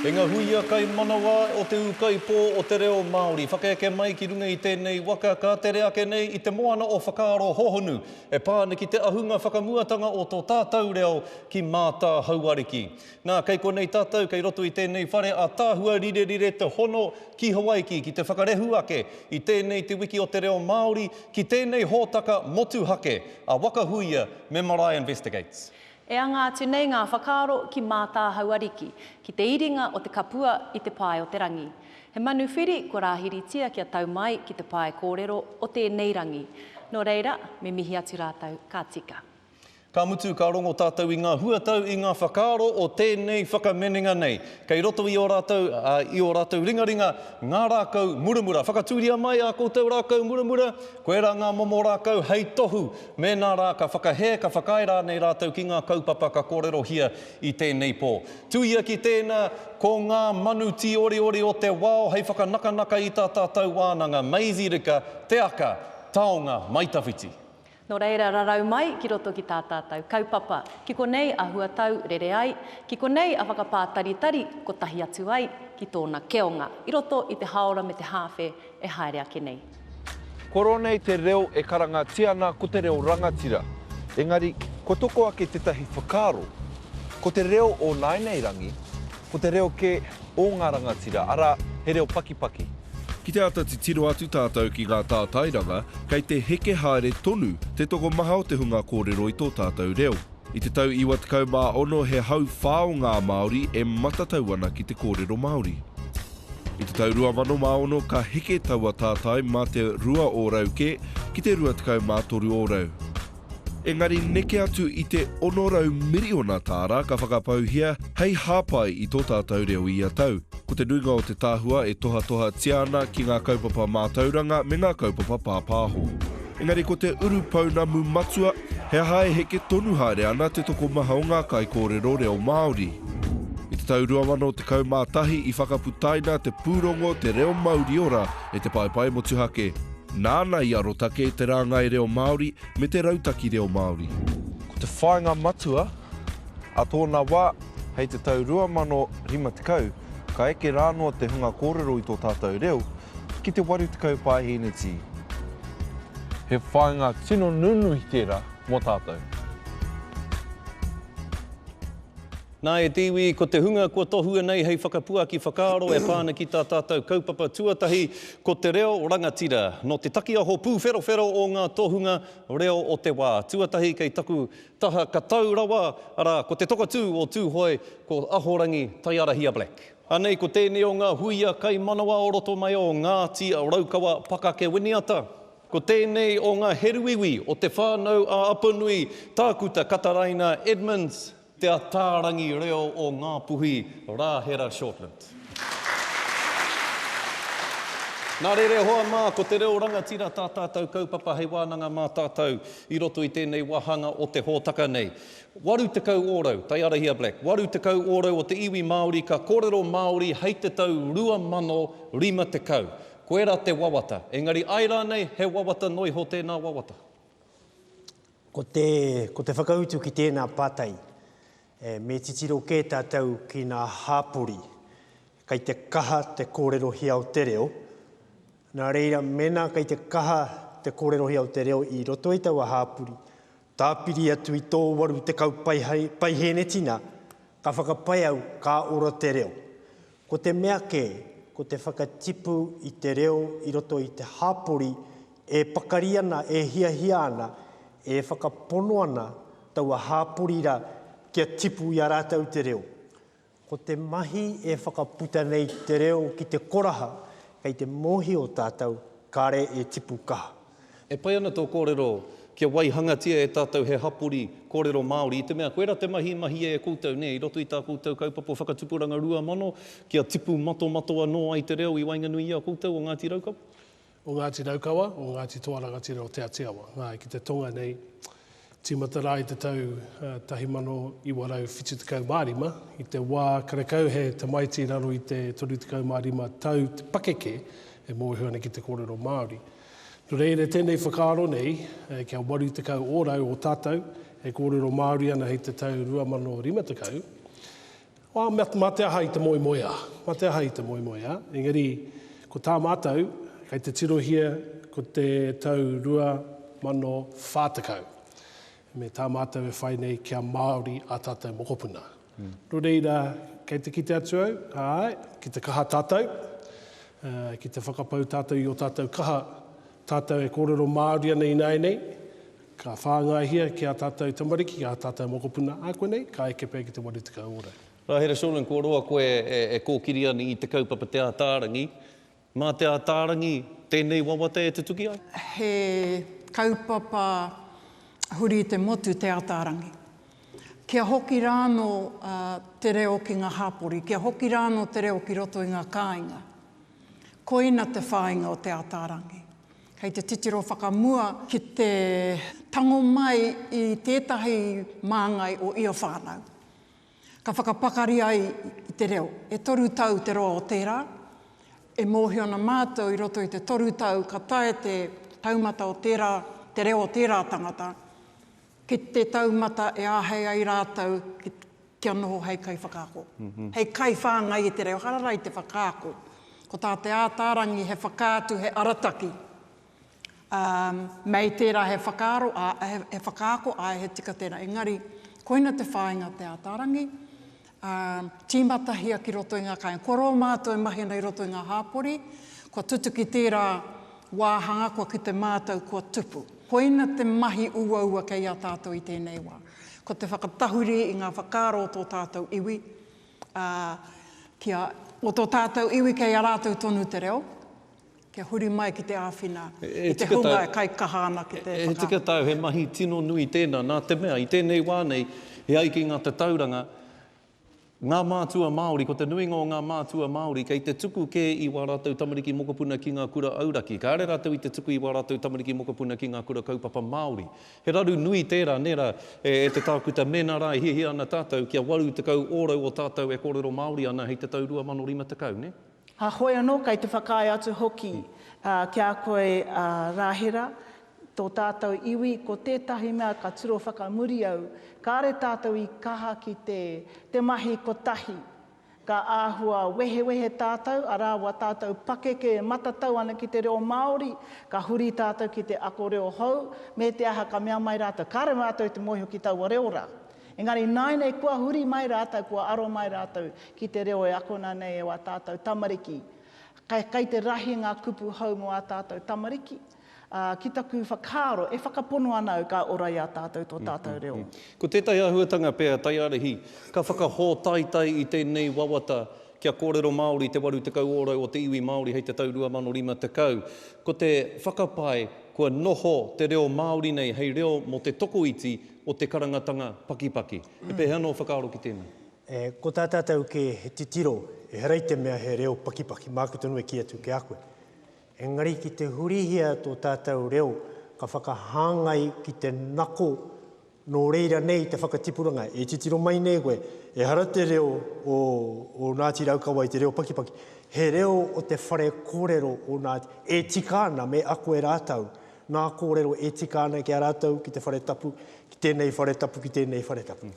E nga huia kai manawa o te ūkaipō o te reo Māori, whakaeke mai ki runga i tēnei waka ka tere ake nei i te moana o whakaaro hohonu e pā ana ki te ahunga whakamuatanga o tō tātau reo ki Mātāhauariki. Nā, kei konei tātou, kei roto i tēnei whare ātaahua rirerire te hono ki Hawaiki ki te whakarehu ake i tēnei Te Wiki o te Reo Māori ki tēnei hōtaka motuhake a Waka Huia me Marae Investigates. E anga atu nei ngā whakaaro ki Mātāhau Ariki, ki te iringa o te kapua i te pae o te rangi. He manu whiri kua rāhiritia kia tau mai ki te pae kōrero o tēnei rangi. Nō reira, me mihi atu rātou, ka tika. Ka mutu, ka rongo tātou i ngā huatau, i ngā whakaaro o tēnei whakaminenga nei. Kei roto i ō rātou, ā, i ō rātou ringaringa, ngā rākau muramura. Whakatūria mai ā koutou rākau muramura, koirā ngā momo rākau hei tohu. Mēnā rā, ka whakahē, ka whakaae rānei rātou ki ngā kaupapa ka kōrerohia i tēnei pō. Tuia ki tēnā, ko ngā manu tīoreore o te wao hei whakanakanaka i tā tātou wānanga. Maisie Rika, Te Aka, Taonga, Maitawhiti. Nō reira rarau mai ki roto ki tā tātou kaupapa, ki konei a huatau rere ai, ki konei a whakapātaritari kotahi atu ai ki tōna keonga i roto i te hāora me te hāwhe e haere ake nei. Kua roa nei te reo e karangatia ana ko te reo rangatira, engari kua toko ake tētahi whakaaro, ko te reo o nāianei rangi, Ko te reo kē ō ngā rangatira, arā, he reo pakipaki. Ki te āta titiro atu tātou ki ngā tātairanga, kei te heke haere tonu te tokomaha o te hunga kōrero i tō tātou reo. I te tau 96 he hauwhā o ngā Māori e matatau ana ki te kōrero Māori. I te tau 2006 ka heke taua tātai mā te rua ōrau kē ki te 23 ōrau. Engari neke atu i te 600 miriona tāra ka whakapauhia hei hāpai i tō tātou reo ia tau. Ko te nuinga o te tahua e tohatohatia ana ki ngā kaupapa mātauranga me ngā kaupapa pāpāho. Engari ko te uru pounamu matua, he aha e heke tonu haere ana te tokomaha o ngā kaikōrero reo Māori? I te tau 2011 i whakaputaina te pūrongo Te Reo Mauriora E te paepae motuhake, nāna i arotake te rāngai reo Māori me te rautaki reo Māori. Ko te whāinga matua a tōna wā, hei te tau 2050, ka eke rā noa te hunga kōrero i tō tātou reo ki te 80 pāhēneti. He whāinga tino nunui tērā mō tātou. Nā, e te iwi, ko te hunga kua tohua nei hei whakapuaki whakaaro e pā ana ki tā tātou kaupapa tuatahi, ko te reo rangatira. Nō te takiaho pūwherowhero o ngā tohunga reo o te wā tuatahi kei taku taha ka tau rawa, arā, ko te tokotū o Tūhoe, ko Ahorangi Taiarahia Black. Anei ko tēnei o ngā huia kaimanawa o roto mai o Ngāti Raukawa, Pakake Winiata. Ko tēnei o ngā heruiwi o Te Whānau-ā-Apanui, Tākuta Kataraina Edmonds. Te Ataarangi Reo o Ngāpuhi, Rāhera Shortland. Nā reira e hoa mā, ko te reo rangatira tā tātou kaupapa hei wānanga mā tātou i roto i tēnei wāhanga o te hōtaka nei. 80 ōrau, taiarahia Black, 80 ōrau o te iwi Māori ka kōrero Māori hei te tau 2050. Koirā te wawata, engari ai rānei he wawata noa iho tēnā wawata. Ko te, ko te whakautu ki tēnā pātai, me titiro kē tātou ki nā hāpori, kei te kaha te kōrerohia o te reo, nā reira mēnā kei te kaha te kōrerohia o te reo i roto i taua hāpori, tāpiri atu i tō 80 paihēnetina, ka whakapae au, ka ora te reo. Ko te mea kē, ko te whakatipu i te reo i roto i te hapori e pakari ana, e hiahia ana, e whakapono ana taua hapori ra kia tipu i a ratou te reo. Ko te mahi e whakaputa nei te reo ki te koraha, kei te mohio tatou kare e tipu kaha. E pai ana tō kōrero kia waihangatia e tātou he hapori kōrero Māori i te mea koirā te mahi i mahia e koutou, nē, i roto i tā koutou kaupapa o whakatupuranga 2000 kia tipu matomato anō ai te reo i waenganui i a koutou o Ngāti Raukawa? O Ngāti Raukawa, o Ngāti Toarangatira, o Te Atiawa, āe, ki te tonga nei, Tīmata rā i te tau 1975, i te wā karekau he tamaiti raro i te 35 tau te pakeke e mōhio ana ki te kōrero Māori. Nō reira, tēnei whakaaro nei, kia 80 ōrau o tātou e kōrero Māori ana hei te tau 2050, Wā, mā te aha i te moemoeā? Mā te aha i te moemoeā? Engari, ko tā mātou, kei te tirohia ko te tau 2040, me tā mātou e whai nei kia Māori ā tātou mokopuna. Nō reira, kei te kite atu au, āe, ki te kaha tātou, ki te whakapau tātou i ō tātou kaha, tātou e kōrero Māori ana ināianei, Ka whāngaihia ki ā tātou tamariki, ki ā tātou mokopuna, ā konei, ka eke pea ki te 80 ōrau. Nā Hera Sholin, kua roa koe e kōkiri ana i te kaupapa Te Ātaarangi. Mā Te Ātaarangi tēnei wawata e tutuki ai? He kaupapa huri i te motu Te Ātaarangi. Kia hoki rānō te reo ki ngā hāpori, kia hoki rānō te reo ki roto i ngā kāinga. Koina te whāinga o Te Ātaarangi. Kei te titiro whakamua ki te tango mai i tētahi māngai o ia whānau. Ka whakapakari ai i te reo. E toru tau te roa o tērā. E mōhio ana mātou i roto i te toru tau ka tae te taumata o tērā, te reo o tērā tangata, ki te taumata e āhei ai rātou ki Kia noho hei kaiwhakaako, hei kaiwhāngai i te reo harara i te whakaako. Ko tā Te Ātaarangi he whakaatu, he arataki, ā, mei tērā he whakaaro, ā, he whakaako, āe, he tika tērā. Engari, koina te whāinga o Te Ātaarangi, ā, tīmatahia ki roto i ngā kāinga. Kua roa mātou e mahi ana i roto i ngā hāpori, kua tutuki tērā wāhanga kua kite mātou kua tupu. Koina te mahi uaua kei a tātou i tēnei wā. Ko te whakatahuri i ngā whakaaro o tō tātou iwi, ā, kia. O tō tātou iwi kei a rātou tonu te reo, kia huri mai ki te āwhina i te hunga e kaikaha ana ki te whakaaro. He tika tāu, he mahi tino nui tēnā, nā te mea, i tēnei wā nei, e ai ki ngā tatauranga, Ngā mātua Māori, ko te nuinga o ngā mātua Māori kei te tuku kē i wā rātou tamariki mokopuna ki ngā kura auraki. Kāre rātou i te tuku i wā rātou tamariki mokopuna ki ngā kura kaupapa Māori. He raru nui tērā, nē rā, e te tākuta mēnā rā e hiahia ana tātou kia 80 ōrau o tātou e kōrero Māori ana hei te tau 2050, nē? Heoi anō, kei te whakaae atu hoki ki a koe a Rāhera, Tō tātou iwi, ko tētahi mea ka tiro whakamuri au, kāre tātou i kaha ki te te mahi kotahi. Ka āhua wehewehe tātou, arā wā tātou pakeke e matatau ana ki te reo Māori, ka huri tātou ki te ako reo hou, me te aha ka mea mai rātou, kāre mātou i te mōhio ki taua reo rā. Engari ināinei kua huri mai rātou, kua aro mai rātou ki te reo e akona nei e wā tātou tamariki. Kei te rahi ngā kupu hou mō ā tātou tamariki. Ā, ki taku whakaaro, e whakapono ana au ka ora i a tātou tō tātou reo. Ko tētahi āhuatanga pea, Taiarahi, ka whakahōtaitai i tēnei wawata kia kōrero Māori te 80 ōrau o te iwi Māori hei te tau 2050. Ko te whakapae, kua noho te reo Māori nei hei reo mō te tokoiti o te karangatanga pakipaki. He pēhea anō whakaaro ki tēnei? E, ko tā tātou kē he titiro, ehara i te mea he reo pakipaki, māku tonu e kī atu ki a koe. Engari ki te hurihia tō tātou reo ka whakahāngai ki te nako nō reira nei te whakatipuranga. E titiro mai nei koe, ehara te reo o o Ngāti Raukawa i te reo pakipaki, he reo o te whare kōrero o Ngāti, e tika ana me ako e rātou ngā kōrero e tika ana ki a rātou, ki te whare tapu, ki tēnei whare tapu, ki tēnei whare tapu.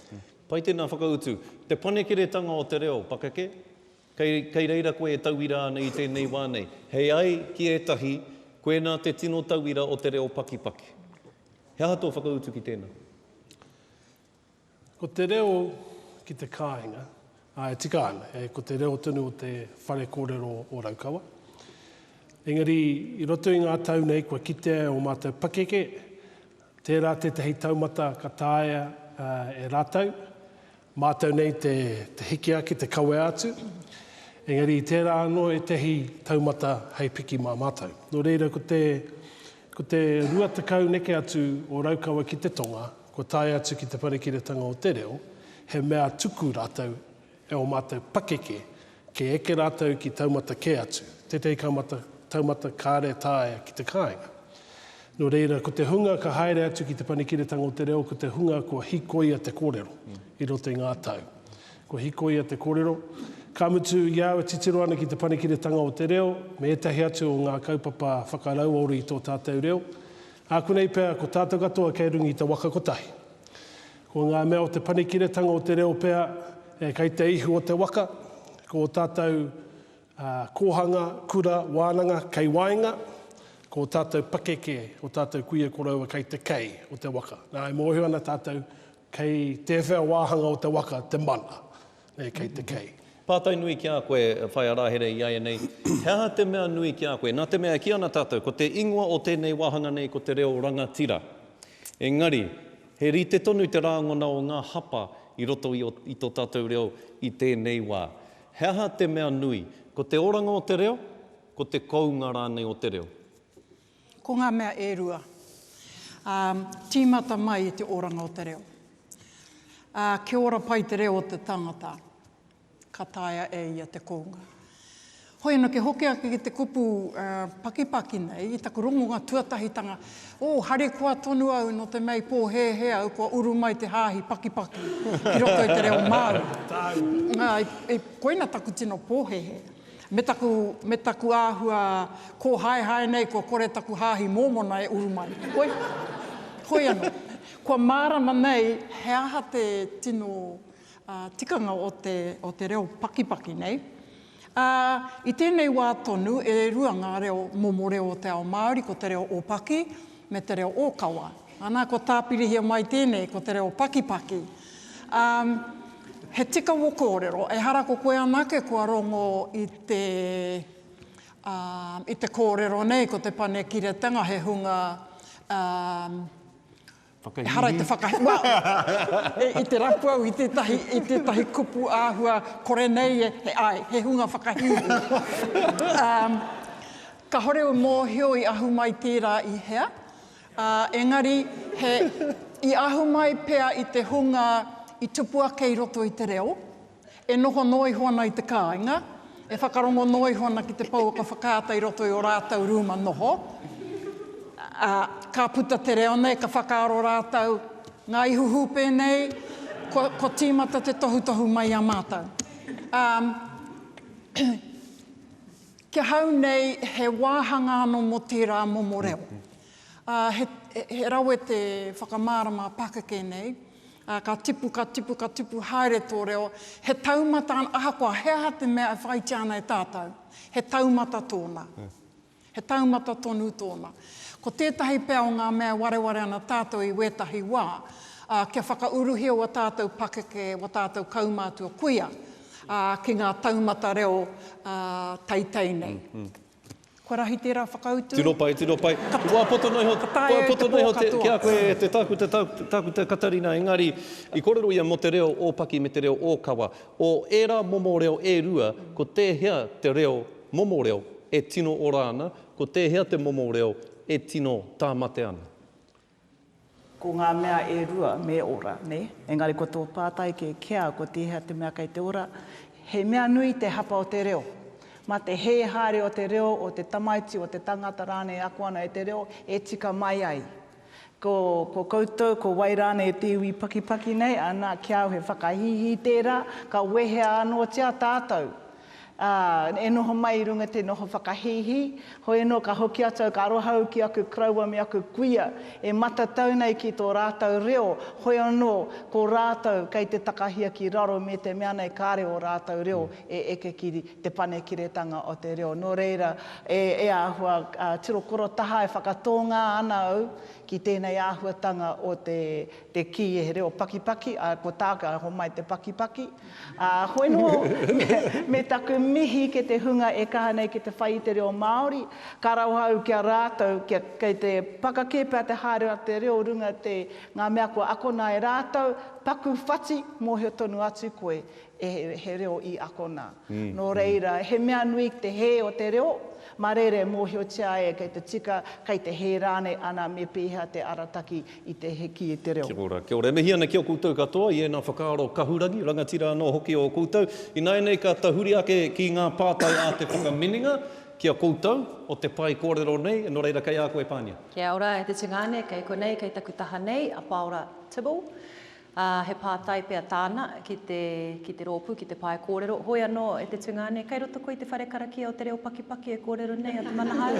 Pai tēnā whakautu. Te panekiretanga o te reo pakeke? Kei reira koe e tauira ana i tēnei wā nei. Hei ai ki ētahi, koinā te tino tauira o te reo pakipaki. He aha tō whakautu ki tēnā? Ko te reo ki te kāinga, ā, e tika ana, e, ko te reo tonu o te whare kōrero o Raukawa. Engari, i roto i ngā tau nei kua kitea e ō mātou pakeke, tērā tētahi taumata ka taea e rātou, Mātou nei te hiki ake, te kawea atu, engari i tērā anō ētahi taumata hei piki mā mātou. Nō reira ko te, ko te rua tekau neke atu o Raukawa ki te tonga, kua tae atu ki Te Wharekiretanga o Te Reo, he mea tuku rātou e ō mātou pakeke Kei eke rātou ki taumata kē atu, tētahi ka mata, taumata kāre taea ki te kāinga. Nō reira, ko te hunga ka haere atu ki Te Panekiretanga o te Reo ko te hunga kua hikoia te kōrero i roto i ngā tau. Kua hikoia te kōrero, ka mutu, i a au e titiro ana ki Te Panekiretanga o te Reo, me ētahi atu o ngā kaupapa whakarauora i tō tātou reo, ākuanei pea ko tātou katoa kei runga i te waka kotahi. Ko ngā mea o Te Panekiretanga o te Reo pea e kei te ihu o te waka, ko ō tātou kōhanga, kura, wānanga kei waenga, ko ō tātou pakeke, ō tātou kuia koroua kei te kei o te waka. Nā, e mōhio ana tātou, kei tēwhea wāhanga o te waka te mana. nei kei te kei. Pātai nui ki a koe, Whaea Rāhere, iaianei, he aha te mea nui ki a koe? Nā te mea e kī ana tātou, ko te ingoa o tēnei wāhanga nei ko te reo rangatira. Engari, he rite tonu te rāngona o ngā hapa i roto i o, i tō tātou reo i tēnei wā. He aha te mea nui? Ko te oranga o te reo, ko te kounga rānei o te reo. Ko ngā mea e rua, ā, tīmata mai i te oranga o te reo. Ā, kia ora pai te reo o te tangata, ka taea e ia te kounga. Hoi anō, kia hoki ake ki te kupu pakipaki nei, i taku rongonga tuatahitanga, ō, harikoa tonu au nō te mea i pōhēhē au kua uru mai te hāhi pakipaki ki roto i te reo Māori. Ā, koina taku tino pōhēhē. Me taku, me taku āhua kōhaehae nei kua kore taku hāhi Mōmona e uru mai. Hoi, hoi anō. Kua mārama nei he aha te tino tikanga o te, o te reo pakipaki nei. Ā, i tēnei wā tonu e rua ngā reo momo reo o te ao Māori, ko te reo ōpaki me te reo ōkawa. Ana, kua tāpirihia mai tēnei ko te reo pakipaki. Um, he tika wo korero, ehara ko koe anake kua rongo i te, um, i te korero nei, ko te panekiretanga he hunga, um, Whakahīhī. Ehara i te whakahīhī. Well, e, i te rapu au, i tētahi, i tētahi kupu āhua, kore nei e, he, ai, he hunga whakahīhī. um, kahore u mōhio i ahu mai tērā i hea, Ā, engari, he, i ahu mai pea i te hunga i tupu ake i roto i te reo, e noho noa iho ana i te kāinga, e whakarongo noa iho ana ki te pouaka whakaata i roto i ō rātou rūma noho, ā, ka puta te reo nei, ka whakaaro rātou, ngā ihu hūpē nei, kua, kua tīmata te tohutohu mai i a mātou. Ā, Ki ahau nei, he wāhanga anō mō tērā momo reo. Ā, he, he rawe te whakamārama pakeke nei. Ā, ka tipu, ka tipu, ka tipu haere tō reo. He taumata, ahakoa he aha te mea e whāitia ana e tātou, he taumata tōna. He taumata tonu tōna. Ko tētahi pea o ngā mea e wareware ana tātou i wētahi wā, ā, kia whakauruhia ua tātou pakeke, ua tātou kaumātua kuia, ā, ki ngā taumata reo, ā, teitei nei. Kua rahi tērā whakautu? Tino pai, tino pai. Kua poto noa iho, kua poto noa iho ki a koe e te tākuta, tākuta Katarina, engari i kōrero ia mō te reo ōpaki me te reo ōkawa. O ērā momo reo e rua, ko tēhea te reo, momo reo, e tino ora ana, ko tēhea te momo reo e tino tāmate ana? Ko ngā mea e rua me ora, nē? Engari ko tō pātai kē kia ko tēhea te mea kei te ora, he mea nui te hapa o te reo. Mā te hē haere o te reo, o te tamaiti, o te tangata rānei e ako ana e te reo, e tika mai ai. Ko, ko koutou, ko wai rānei e te iwi pakipaki nei, ana, kia au he whakahīhī tērā, ka wehea anōtia tātou. Ā, e noho mai i runga te noho whakahīhī, hoi anō ka hoki atu au ka aroha au ki aku koroua me aku kuia e matatau nei ki tō rātou reo, hoi anō ko rātou kei te takahia ki raro me te mea nei kāre ō rātou reo e eke ki Te Panekiretanga o te Reo. Nō reira, e, e āhua tiro korotaha e whakatōngā ana au ki tēnei āhuatanga o te, te kī e he reo pakipaki, ā, ko tāku, ā, homai te pakipaki. Ā, koe nō, me taku mihi ke te hunga e kaha nei ki te whai i te reo Māori, ka rauha au ki a rātou, kia, kei te pakakē pea te haere a te reo runga te, ngā mea kua akona e rātou, paku whati, mōhio tonu atu koe, e, he reo i akona. Nō reira, he mea nui te hē o te reo, mā reira e mōhiotia ai kei te tika, kei te hē rānei ana me pēhea te arataki i te heki i te reo. Kia ora, kia ora. E mihi ana ki a koutou katoa i ēnā whakaaro kahurangi, rangatira anō hoki o koutou. Ināianei ka tahuri ake ki ngā pātai a te whakamininga ki a koutou o te pae kōrero nei, nō reira kei a koe Pania. Kia ora e te tungāne, kei konei, kei taku taha nei, a Pāora Tibble. ā, he pātai pea tāna ki te, ki te rōpū, ki te pae kōrero, hoi anō e te tungāne, kei roto koe i te whare karakia o te reo pakipaki e kōrero nei a Te Manahau?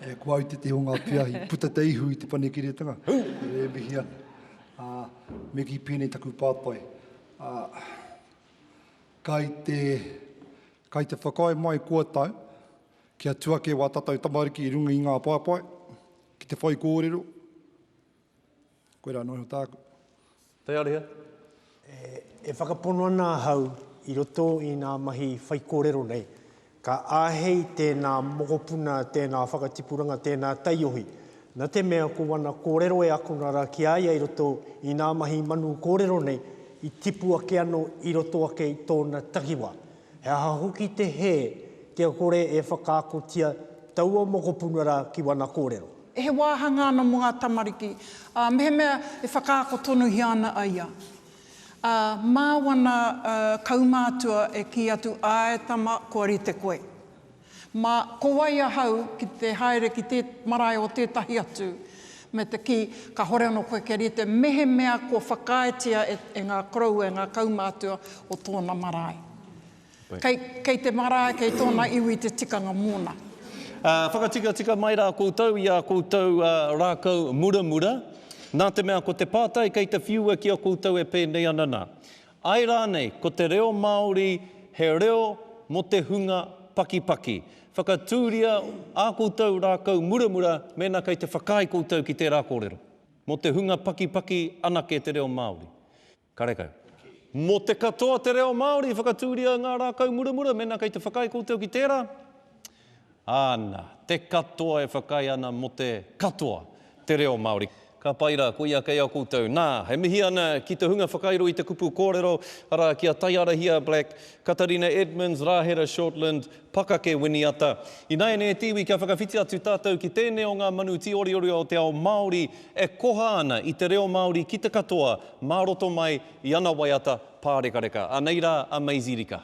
E koa i te te o ngā peahi, puta te ihu i te panekiretanga, e mihi ana. Ā, me kī pēnei taku pātai, ā, kai te, kai te whakaae mai kua tau, kia tū ake wā tātou tamariki i runga i ngā paepae, ki te whaikōrero, Koe ra noho tāku. Te Ariha. E whakapono ana ahau i roto i ngā mahi whaikōrero nei, ka āhei tēnā mokopuna, tēnā whakatipuranga, tēnā taiohi, na te mea ko ana kōrero e akona ra ki a ia i roto i ngā mahi manu kōrero nei i tipu ake ano i roto ake i tōna takiwa. He aha hoki te hē kia kore e whakaakotia taua mokopuna rā ki wana kōrero? He wāhanga ana mō ngā tamariki, ā, mehemea e whakaako tonuhia ana a ia, ā, mā wana kaumātua e kī atu, Āe, tama, kua rite koe. Mā, ko wai ahau ki te haere ki te marae o tētahi atu, me te kī, kāhore anō koe kia rite, mehemea kua whakaaetia e, e ngā koroua, e ngā kaumātua o tōna marae. Kei, kei te marae, kei tōna iwi te tikanga mōna. Ā, whakatikatika mai rā koutou i ā koutou rākau muramura, nā te mea ko te pātai kei te whiua ki a koutou e pēnei ana nā. Āe rānei, ko te reo Māori he reo mō te hunga pakipaki. Whakatūria ā koutou rākau muramura mēnā kei te whakaae koutou ki tērā kōrero. Mō te hunga pakipaki anake te reo Māori. Karekau. Mō te katoa te reo Māori, whakatūria ngā rākau muramura mēnā kei te whakaae koutou ki tērā. Ana, te katoa e whakaae ana mo te katoa te reo Maori. Ka pai ra, koia kei a koutou. Na, e mihi ana ki te hunga whakairo i te kupu korero, ara, ki a Taiarahia Black, Katarina Edmonds, Rahera Shortland, Pakake Winiata. Inaene te iwi kia whakawhiti atu tatou ki tenei o nga manu tioriori o te ao Maori e koha ana i te reo Maori ki te katoa ma roto mai i ana waiata parekareka. Anei ra a Maisie Rika.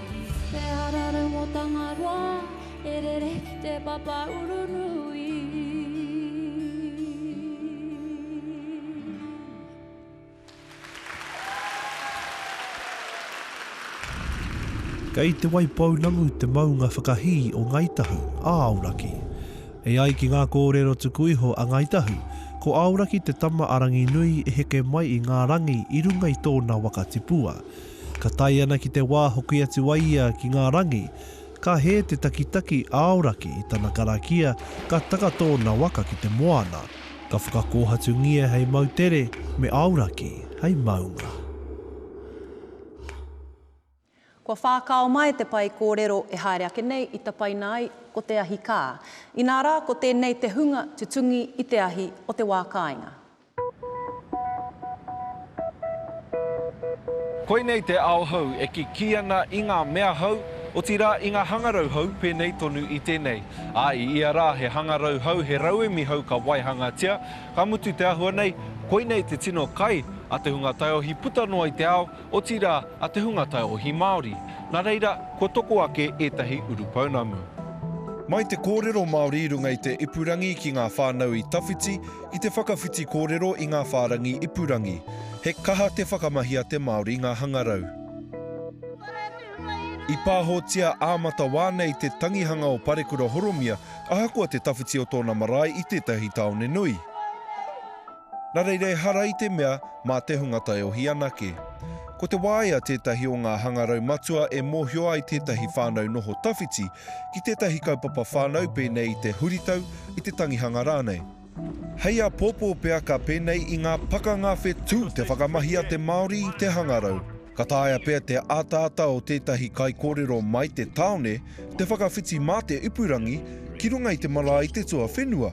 He ara rau mō Tangaroa, e rere ki te papa uru nui. Kei Te Waipounamu te maunga whakahī o Ngāi Tahu, a Aoraki. E ai ki ngā kōrero tuku iho a Ngāi Tahu, ko Aoraki te tama a Ranginui i heke mai i ngā rangi i runga i tōna waka tipua. Ka tae ana ki te wā hoki atu a ia ki ngā rangi, ka hē te takitaki aoraki i tana karakia ka taka tōna waka ki te moana, ka whakakōhatungia hei moutere me aoraki hei maunga. Kua whākao mai te pae kōrero e haere ake nei i tapaina ai ko te ahi kā. Inā rā ko tēnei te hunga tutungi i te ahi o te wā kāinga. Koinei te ao hou e kikī ana i ngā mea hou, otirā i ngā hangarau hou pēnei tonu i tēnei. Ā, i ia rā he hangarau hou, he rauemi hou ka waihangatia, ka mutu te āhua nei, koinei te tino kai a te hunga taiohi puta noa i te ao, otirā a te hunga taiohi Māori. Nā reira, kua toko ake ētahi urupounamu. Mai te kōrero Māori i runga i te ipurangi ki ngā whānau i tawhiti, I te whakawhiti kōrero i ngā whārangi ipurangi, he kaha te whakamahia te Māori ngā hangarau. I pāhotia ā matawā nei te tangihanga o Parekura Horomia ahakoa te tawhiti o tōna marae i tētahi tāone nui. Nā reira ehara i te mea mā te hunga taiohi anake. Ko te waea tētahi o ngā hangarau matua e mōhio ai tētahi whānau noho tawhiti ki tētahi kaupapa whānau pēnei i te huritau, i te tangihanga rānei. Hei āpōpō pea ka pēnei i ngā pakanga whetū te whakamahi a te Māori i te hangarau. Ka taea pea te ataata o tētahi kaikōrero mai te tāone te whakawhiti mā te ipurangi ki runga i te marae i te tuawhenua.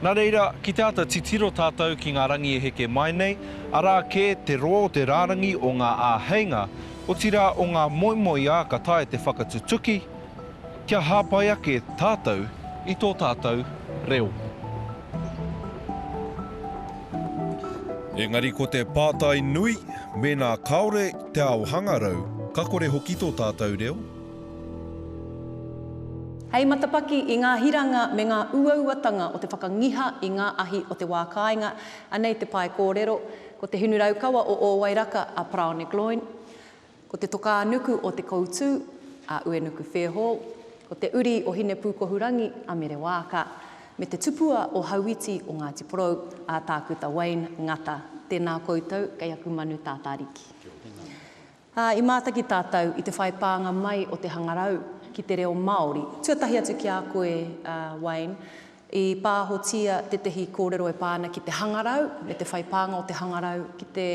Nā reira, ki te āta titiro tātou ki ngā rangi e heke mai nei, arā kē te rō, te rārangi o ngā āheinga, otirā o ngā moemoeā ka taea te whakatutuki, kia hāpai ake tātou i tō tātou reo. Engari ko te pātai nui, mēnā kāore te ao hangarau, ka kore hoki tō tātou reo? Hei matapaki i ngā hiranga me ngā uauatanga o te whakangiha i ngā ahi o te wā kāinga, anei te pae kōrero, Ko te hinu raukawa o Ōwairaka a Paraone Gloyne, ko te tokānuku o Te Koutū a Uenuku Fairhall, ko te uri o Hinepūkohurangi a Mere Waaka, me te tupua o Hauiti o Ngāti Porou a Tākuta Wayne Ngata. Tēnā koutou kei aku manu tātāriki. Ā, i mātaki tātou i te whai pānga mai o te hangarau ki te reo Māori. Tuatahi atu ki a koe, a Wayne, i pāhotia tētehi kōrero e pā ana ki te hangarau me te whai pānga o te hangarau ki te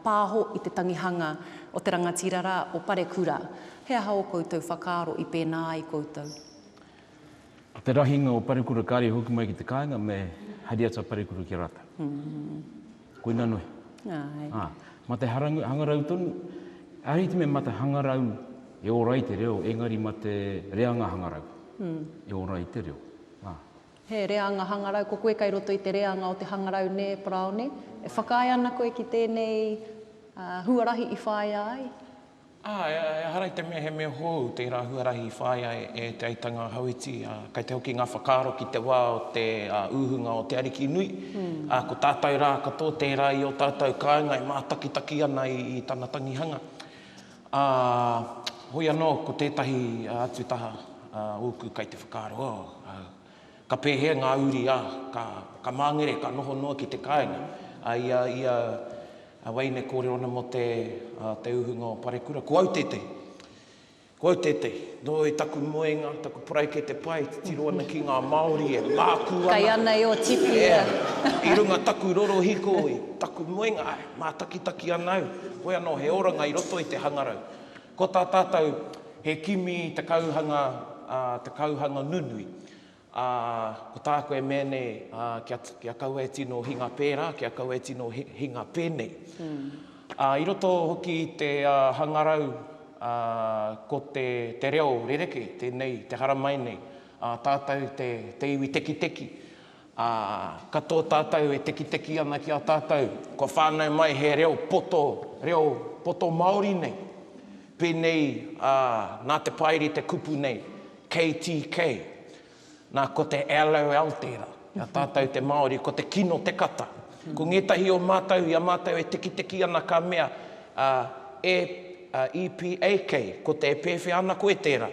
pāho i te tangihanga o te rangatira rā o Parekura. He aha ō koutou whakaaro i pēnā ai koutou? Ko te rahinga o parekura kare hoki mai ki te kainga me hari atu a parekura ki a ratou. Koina nohi. A, ma te harangu, hangarau tonu, arihit me ma te hangarau e ora ai te reo engari ma te reanga hangarau e ora ai te reo. A. He reanga hangarau, ko koe kai roto i te reanga o te hangarau ne, Paraone? E whakaae ana koe ki tenei huarahi i whaia ai? Ā, ehara i te mea he mea hou tērā huarahi i whāia e Te Aitanga Hauiti, ā, kei te hoki ngā whakaaro ki te wā o te uhunga o te Ariki Nui, ā, ko tātou rā katoa tērā i ō tātou kāinga e mātakitaki ana i tana tangihanga. Ā, hoi anō, ko tētahi atu taha ōku kei te whakaaro, oh, au. Ka pēhea ngā uri a, ka, ka māngere, ka noho noa ki te kāinga? Ā, i a, i a, a Waine kōrero ana mō te, ā, te uhunga o Parekura, ko au tētehi. Ko au tētehi. Nō i taku moenga, taku paraikete pai, e titiro ana ki ngā Māori, e mākū ana. Kai ana e Otipi, ā. Ea, i runga taku rorohiko, i taku moenga, āe, mātakitaki ana au, hoi anō he oranga i roto i te hangarau. Ko tā tātou, he kimi i te kauhanga, ā, te kauhanga nunui. Ā, ko tāku e mea nei, ā, kia, kia kaua e tino hinga pērā, kia kaua e tino hinga pēnei. Ā, i roto hoki i te hangarau, ā, ko te, te reo rerekē tēnei te haramai nei, ā, tātou te, te iwi tekiteki, ā, katoa tātou e tekiteki ana ki a tātou, kua whānau mai he reo poto, reo poto Māori nei. Pēnei, ā, nā te Paeri te kupu nei, KTK, Nā, ko te LOL tērā. Ki a tātou te Māori, ko te kino te kata. Ko ngētahi o mātou, i a mātou e tekiteki ana ka mea, E, EPAK, ko te e pēwhea ana koe tērā.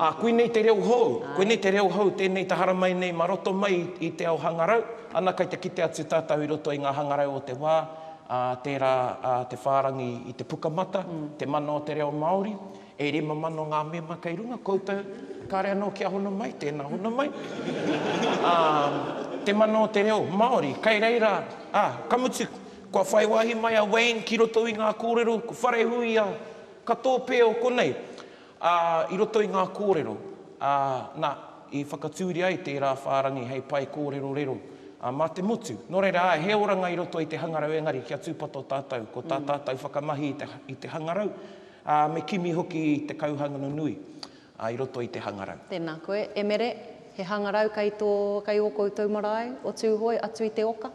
Ā, koinei te reo hou, koinei te reo hou tēnei te haramai nei mā roto mai i te ao hangarau. Ana, kei te kite atu tātou i roto i ngā hangarau o te wā, tērā te whārangi i te pukamata, te mana o te reo Māori. E rima mano ngā mema kei runga koutou, kāre anō kia hono mai, tēnā hono mai. Ā, te mana o te reo Māori, kei reira, ā, ka mutu, kua whai wāhi mai a Wayne ki roto i ngā kōrero, ko Wharehuia, ka tōpēo konei, ā, i roto i ngā kōrero, ā, nā, i whakatūria ai tērā whārangi hei pae kōrero rero, ā, mā te motu. Nō reira, āe, he oranga i roto i te hangarau engari kia tūpato tātou, ko tā tātou whakamahi i te, i te hangarau, Ā, me kimi hoki te kauhangano nui i roto i te hangarau. Tēnā koe, e Mere, he hangarau kei tō, kei ō koutou marae o Tūhoe atu i te oka.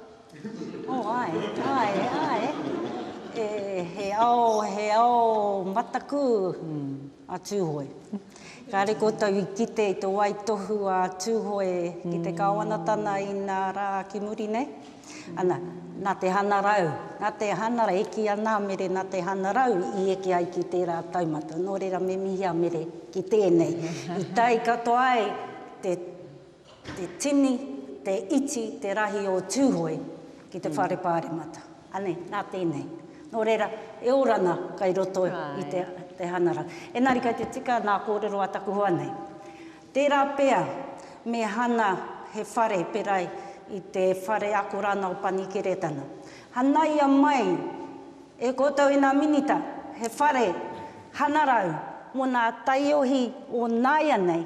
O, āe, āe, āe. E, he ao, he ao mataku a Tūhoe. Kāre koutou i kite i te waitohu a Tūhoe ki te Kāwanatana inā rā ki muri nei. Ana, nā te hangarau, nā te hangarau, e kī ana a Mere nā te hangarau i eke ai ki tērā taumata. Nō reira me mihi a Mere ki tēnei. I tae katoa ai te tini, te iti, te rahi o Tūhoe ki te Whare Pāremata. Anei, nā tēnei. Nō reira, e orana kai roto i te hangarau. Engari kei te tika nā kōrero a taku hoa nei. Tērā pea, me hana he whare pērā i te whare ako rāna o Panikeretana. Hanaia mai e koutou i ngā Minita he whare hanarau mō ngā taiohi o nāianei,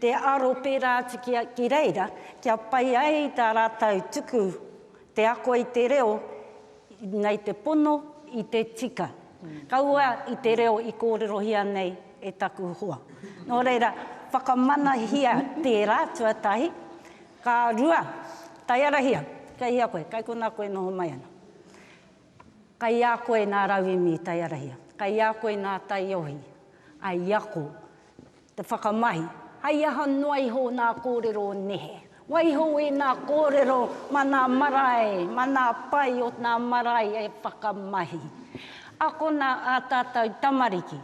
te aro pērā atu ki reira, kia pai ai tā rātou tuku te ako i te reo, Nei te pono i te tika. Kaua i te reo i kōrerohia nei e taku hoa. Nō reira, whakamanahia tērā tuatahi. Ka rua, taiarahia, kei hea koe, kei konā koe noho mai ana. Kei a koe nā rauemi i taiarahia, kei a koe nā taiohi, i ako. Te whakamahi, hei aha noa iho nā kōrero nehe? Waiho i nā kōrero ma nā marae, ma nā pae o nā marae e whakamahi. Akona ā tātou tamariki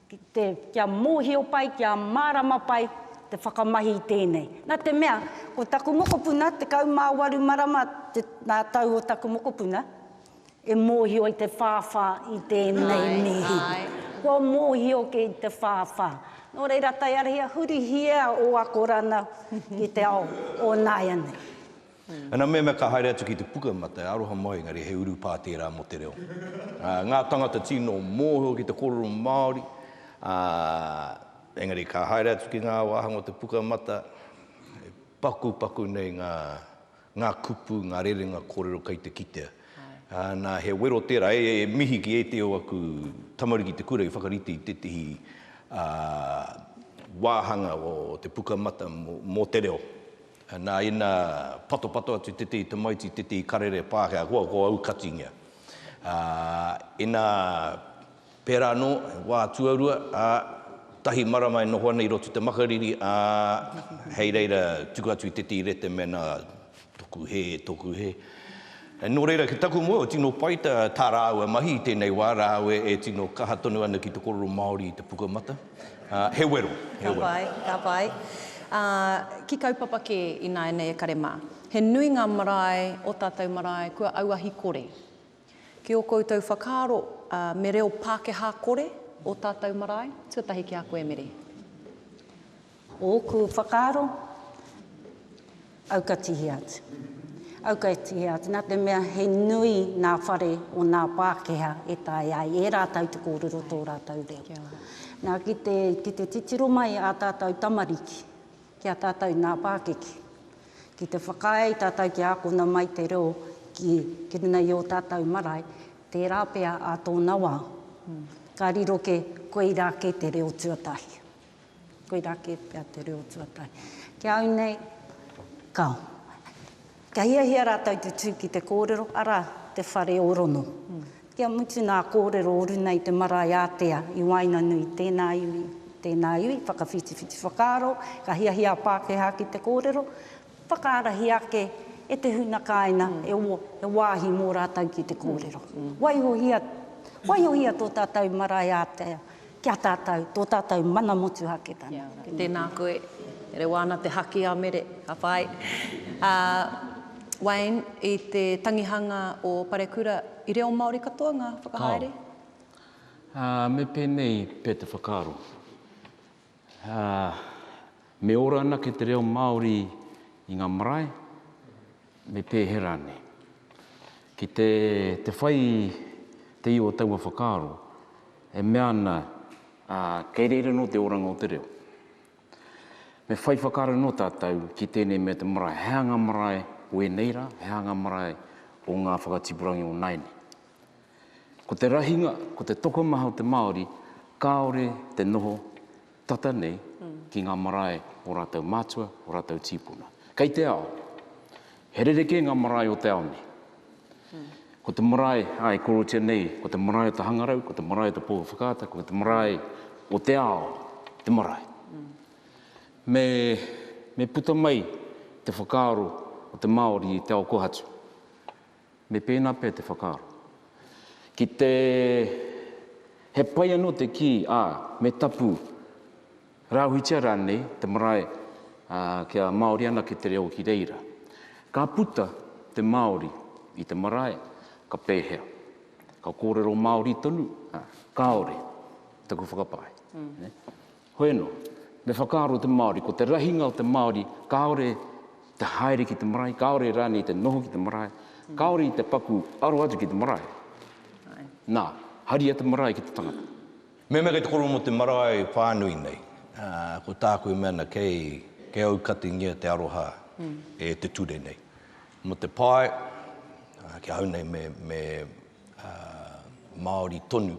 ki te, kia mōhio pai, kia mārama pai te whakamahi i tēnei. Nā te mea, ko taku mokopuna, 18 marama te, nā tau o taku mokopuna, E mōhio i te whāwhā i tēnei mihi. Kua mōhio ki te whāwhā. Nō reira, tae ara ia, hurihia ō akoranga ki te ao o nāianei. Ana mea ka haere atu ki te puka mate, e aroha mai, engari he urupā tērā mō te reo. Ngā tangata tino mōhio ki te kōrero Māori, ā, engari ka haere atu ki ngā wāhanga o te puka mate, e pakupaku nei ngā ngā kupu, ngā rerenga kōrero kei te kitea. Nā, he wero tērā, e mihi ki ētehi o aku tamariki i te kura i whakarite i tētehi wāhanga o te Pukamata mō te Reo. Nā, ina patopato atu tētehi tamaiti i tētehi karere Pākehā, ko au katoinga. Ina Pērā anō, he wā tuarua, ā, tahi marama e noho ana i roto i te makariri, ā, hei reira tuku atu i te tīrete mēnā toku hē, toku hē. Nō reira, ki taku moe, tino pai tā, tā rāua mahi i tēnei wā, rāua e tino kaha tonu ana ki te kōrero Māori i te pukamata. Ā, he wero, he wero. Ka pai, ka pai. Ā, ki kaupapa kē ināianei e kare mā. He nui ngā marae, ō tātou marae, kua auahi kore. Ki ō koutou whakaaro, me reo Pākehā kore ō tātou marae? Tuatahi ki a koe, Meri. Ōku whakaaro, aukatihia atu. Aukatihia atu, nā te mea he nui ngā whare o ngā Pākehā e taea ai e rātou te kōrero tō rātou reo. Nā, ki te titiro mai ā tātou tamariki ki a tātou ngā pākeke, Ki te whakaae i tātou kia ākona mai te reo ki runga i ō tātou marae, tērā pea ā tōna wā, ka riro kē, koirā kē te reo tuatahi. Koirā kē pea te reo tuatahi. Ki a au nei, kāo. Ka hiahia rātou te tū ki te kōrero, arā, te whare ō-rono. Kia mutu ngā kōrero o runa i te marae ātea i waenganui, tēnā iwi, tēnā iwi, whakawhitiwhiti whakaaro, ka hiahia a Pākehā ki te kōrero, whakaarahi ake e te huna kāinga he wāhi mō rātou ki te kōrero. Waihohia, waihohia tō tātou marae ātea. Ki a tātou, tō tātou mana motuhaketanga. Tēnā koe. Rewa ana te haki a Mere. Ka pai. Ā, Wayne, i te tangihanga o Parekura, i reo Māori katoa ngā whakahaere? Kāo. Ā, me pēnei pea te whakaaro. Ā, me ora anake te reo Māori i ngā marae? me pēhea rānei. Ki te, te whai te i o taua whakaaro, e mea ana, ā, kei reira anō te oranga o te reo. Me whai whakaaro anō tātou ki tēnei mea te marae, he aha ngā marae o ēnei rā, he aha ngā marae o ngā whakatipurangi o nāianei. Ko te rahinga, ko te tokomaha o te Māori, kāore te noho Tata nei ki ngā marae o rātou mātua, o rātou tīpuna. Kei te ao, he rerekē ngā marae o te ao nei. Ko te marae a e korotia nei, ko te marae o te hangarau, ko te marae o te pō whakaata, ko te marae o te ao, te marae. Me puta mai te whakaaro o te Māori i te ao kohatu. Me pēnā pea te whakaaro. Ki te He pai anō te kī, ā, me tapu, rāhuitia rānei te marae kia Māori anake te reo ki reira. Ka puta te Māori i te marae, ka pēhea? Ka kōrero Māori tonu? Kāore, taku whakapae. Hoeno, me whakaaro te Māori, ko te rahinga o te Māori, kāore te haere ki te marae, kāore rānei te noho ki te marae, kāore i te paku aro atu ki te marae. Nā, haria te marae ki te tangata. Mehemea kei te koro mō te marae whānui nei, ko tāku e mea ana, kei, kei aukatingia te aroha e te ture nei. Mō te pae, ki ahau nei me, me Māori tonu.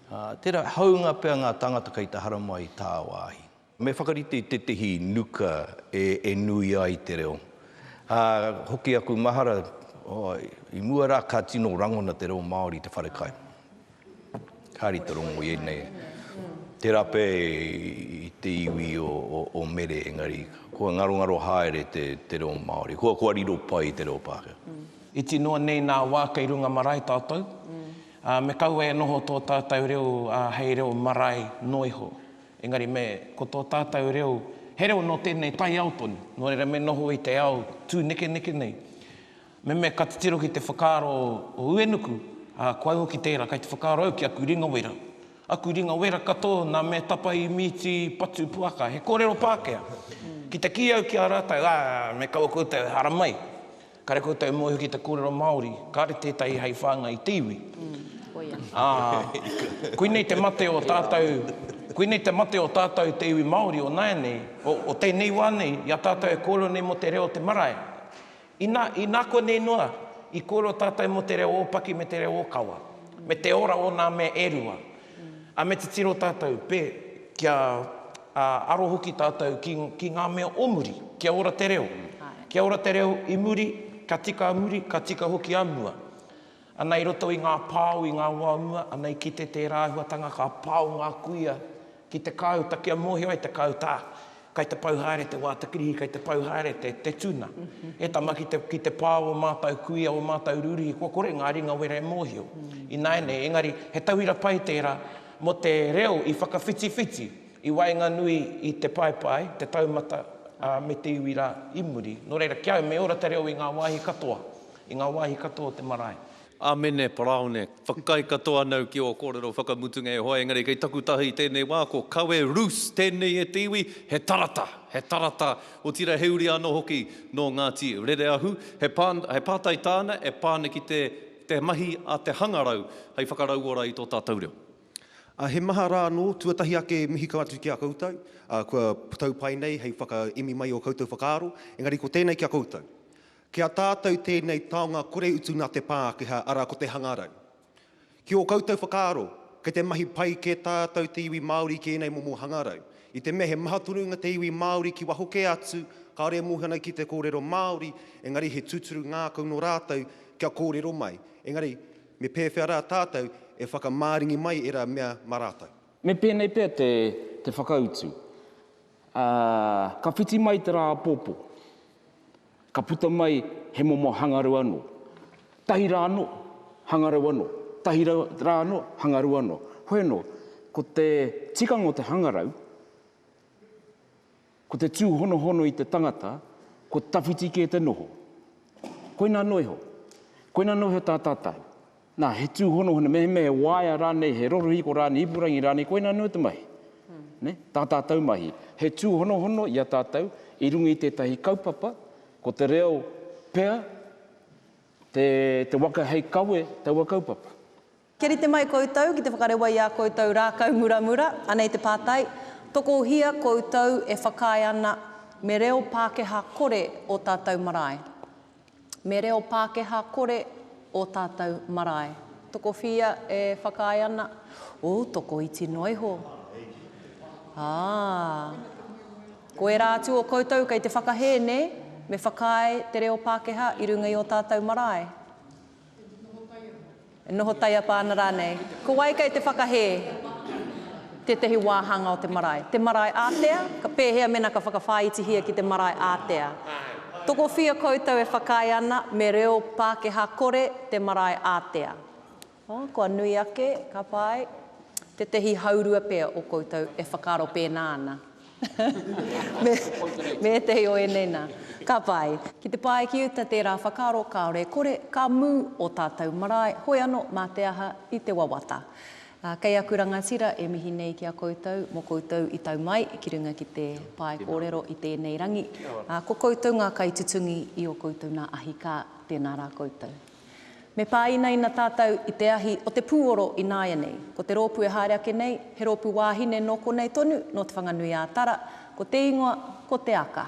Ā, tērā hāunga pea ngā tāngata kei te haramai i tāwāhi. Me whakarite i tētehi nuka e, e nui ai te reo. Ā, hoki aku mahara, oh, i mua rā ka tino rangona te reo Māori i te wharekai. Kāre i te rongo i ēnei, tērā pea i te iwi o, o, o Mere, engari kua ngarongaro haere te, te reo Māori. Kua, kua riro pai i te reo Pākehā. Iti noa nei nā wā kei runga marae tātou. Ā, me kaua e noho tō tātou reo hei reo marae noa iho. Engari me, ko tō tātou reo, he reo nō tēnei taiao tonu. Nō reira me noho i te ao tūnekeneke nei. Me mea ka titiro ki te whakaaro o Uenuku, ā, ko au hoki tērā, kei te whakaaro au ki aku ringa wera. Aku ringa wera katoa nā mea tapa i Mīti Patu Puaka, he kōrero Pākehā. Ki te kī au ki a rātou, ā, me kaua koutou e haramai. Kare koutou e mōhio ki te kōrero Māori, kāre tētahi hei whāngai i te iwi. Ā, koinei te mate o tātou, koinei te mate o tātou te iwi Māori o nāianei, o, o tēnei wā nei, i a tātou e kōrero nei mō te reo o te marae. Inā, inā konei noa, i kōrero tātou mō te reo ōpaki me te reo ōkawa, me te ora o nā mea e rua. Ā, me titiro tātou, pē, kia, ā, aro hoki tātou ki, ki ngā mea o muri. Kia ora te reo. Kia ora te reo i muri, ka tika a muri, ka tika hoki a mua. Ana i roto i ngā pao i ngā wā o mua, ana i kite tērā āhuatanga ka pao ngā kuia ki te kāuta kia mōhio ai te kāuta, ā, Kai te pau haere te wā, te kirihi, kai te pau haere te, te tuna. E tama ki te, ki te pā o ō mātau kuia, ō mātau rūrihi, kua kore ngā ringa wera e mōhio. Ināianei, engari, he tauira pai tērā mō te reo i whakawhitiwhiti i waenganui i te paepae, te taumata, ā, me te iwi rā i muri. Nō reira, ki au, me ora te reo i ngā wāhi katoa, i ngā wāhi katoa o te marae. Amene, Paraone, whakaae katoa anau ki ō kōrero whakamutunga e hoa, engari kei taku taha i tēnei wā, ko kawe Ruth tēnei e te iwi, he tarata, he tarata, otirā he uri anō hoki nō Ngāti Rereahu, he pā, he pātai tāna e pā ana ki te, te mahi a te hangarau hei whakarauora i tō tātou reo. Ā, he maha rā anō, tuatahi ake mihi kau atu ki a koutou, ā, kua tau pai nei hei whakaemi mai i ō koutou whakaaro, engari ko tēnei ki a koutou. Ki a tātou tēnei taonga kore utu nā te Pākehā, arā ko te hangarau. Ki ō koutou whakaaro, kei te mahi pai kē tātou te iwi Māori ki ēnei momo hangarau. I te mea he maha tonu ngā te iwi Māori ki waho kē atu, kāore e mōhio ana ki te kōrero Māori, engari he tūturu ngākau nō rātou kia kōrero mai. Engari, me pēwhea rā tātou e whakamāringi mai ērā mea mā rātou? Me pēnei pea te whakautu, ā, ka whiti mai te rā apopo. Ka puta mai he momo hangarau anō, tahi rā anō, hangarau anō, tahi rā anō, hangarau anō. Hoi anō, ko te tikanga o te hangarau, ko te tūhonohono i te tangata, ko tawhiti kē te noho. Koina anō iho, koina anō iho tā tātau. Nā, he tūhonohono, mehemea he waea rānei, he rorohiko rānei, ipurangi rānei, koinā anō te mahi. Nē? Tā tātou mahi. He tūhonohono i a tātou i runga i tētahi kaupapa, ko te reo pea te, te waka hei kawe taua kaupapa. Kia rite mai koutou ki te whakarewa i ā koutou rākau muramura, anei te pātai, Tokohia koutou e whakaae ana me reo Pākehā kore ō tātou marae? me reo Pākehā kore ō tātou marae. Tokowhia e whakaae ana, Ōu tokoiti noa iho. Ā, ko ērā atu o koutou kei te whakahē, nē, me whakaae te reo Pākehā i runga i ō tātou marae. E noho taiapa ana rānei? Ko wai kei te whakahē tētahi wāhanga o te marae? Te marae ātea? Ka pēhea mēnā ka whakawhāitihia ki te marae ātea? Tokowhia koutou e whakaae ana me reo Pākehā kore te marae ātea? O, kua nui ake, ka pai. Tētahi haurua pea o koutou e whakaaro pēnā ana. me ētahi o ēnei nā. Ka pai. Ki te pae ki uta tērā whakaaro kāore e kore, ka mū ō tātou marae, hoi anō mā te aha i te wawata. Kei aku rangatira e mihi nei ki a koutou mō koutou i tau mai ki runga ki te pae kōrero i tēnei rangi. Ko koutou ngā kaitutungi i ō koutou nā ahi kā, tēnā rā koutou. Me pāinaina tātou i te ahi o te pūoro i nāianei. Ko te rōpū e haere ake nei, he rōpū wāhine nō konei tonu, nō Te Whanganui-ā-Tara, ko te ingoa, ko Te Aka.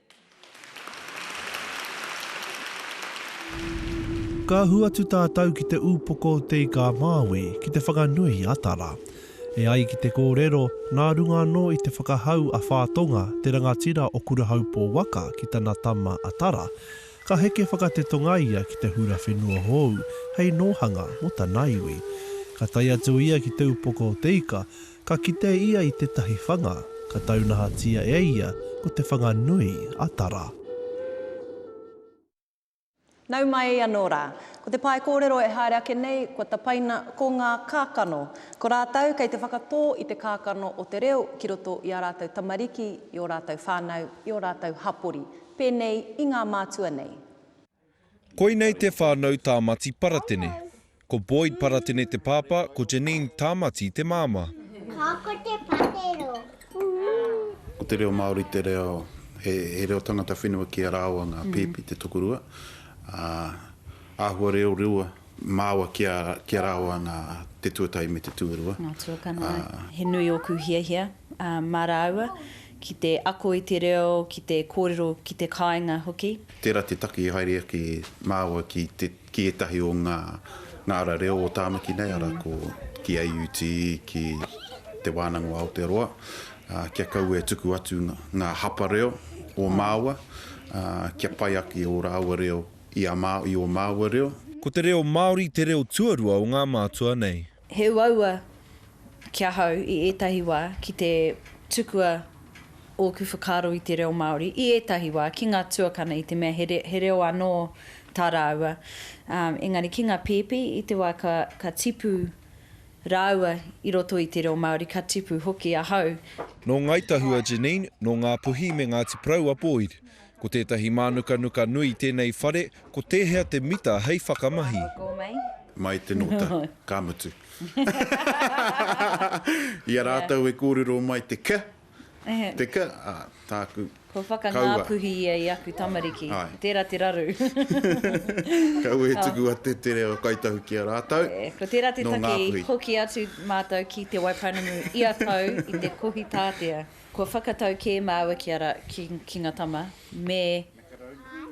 Ka ahu atu tātou ki te upoko o Te Ika-a-Māui ki te whakanui a Tara. E ai ki te kōrero, nā runga anō i te whakahau a Whātonga, te rangatira o Kurahaupō waka ki tana tama a Tara, ka heke whakatetonga ia ki te hura whenua hou hei nōhanga mō tana iwi. Ka tae atu ia ki te upoko o Te Ika, Ka kite ia i tētahi whanga, ka taunahatia e ia ko te whanga nui a Tara. Nau mai anō rā. Ko te pae kōrero e haere ake nei, kua tapaina ko ngā kākano. Ko rātou kei te whakatō i te kākano o te reo ki roto i ā rātou tamariki, i ō rātou whānau, i ō rātou hapori, pēnei i ngā mātua nei. Koinei te whānau Tāmati Paratene. Ko Boyd Paratene te pāpā, ko Janine Tāmati te māmā. Ka ako te patero. Ko te reo Māori te reo, he reo tangata whenua ki a rāua ngā pēpi te tokorua, ā, āhua reo rewa Māua kia, kia raoa ngā, te tuatahi me te tuarua. Ngā tuakana. He nui ōku hiahia, ā, mā rāua, ki te ako i te reo, ki te kōrero ki te kāinga hoki. Tērā te taki haere ake māua ki te, ki ētahi o ngā, ngā ara reo o Tāmaki nei, arā, ko, ki AUT, ki Te Wānanga o Aotearoa, ā, kia kaua e tuku atu ngā hapa reo o māua, ā, kia pai ake ō rāua reo I a māu, i ō māua reo. Ko te reo Māori te reo tuarua o ngā mātua nei. He uaua ki ahau i ētahi wā ki te tukua ōku whakaaro i te reo Māori, i ētahi wā, ki ngā tuakana i te mea he reo anō tā rāua. Engari ki ngā pēpi, i te wā ka tipu rāua i roto i te reo Māori, ka tipu hoki ahau. Nō Ngāi Tahua Janine, nō Ngāpuhi me Ngāti Porou a Boyd. Ko tētahi mānukanuka nui tēnei whare, ko tēhea te mita hei whakamahi? Mai te nota, ka mutu. I a rātou e kōrero mai te ka, te ka, ā, tāku, Kua whakangāpuhi ia i aku tamariki. Tērā te raru. Kaua e tuku atu te reo Kai Tahu ki a rātou. Ko tērā te take i hoki atu mātou ki Te Waipounamu ia tau i te kohi tātea. Kua whakatau kē māua ki a ra, ki, ki nga tama, me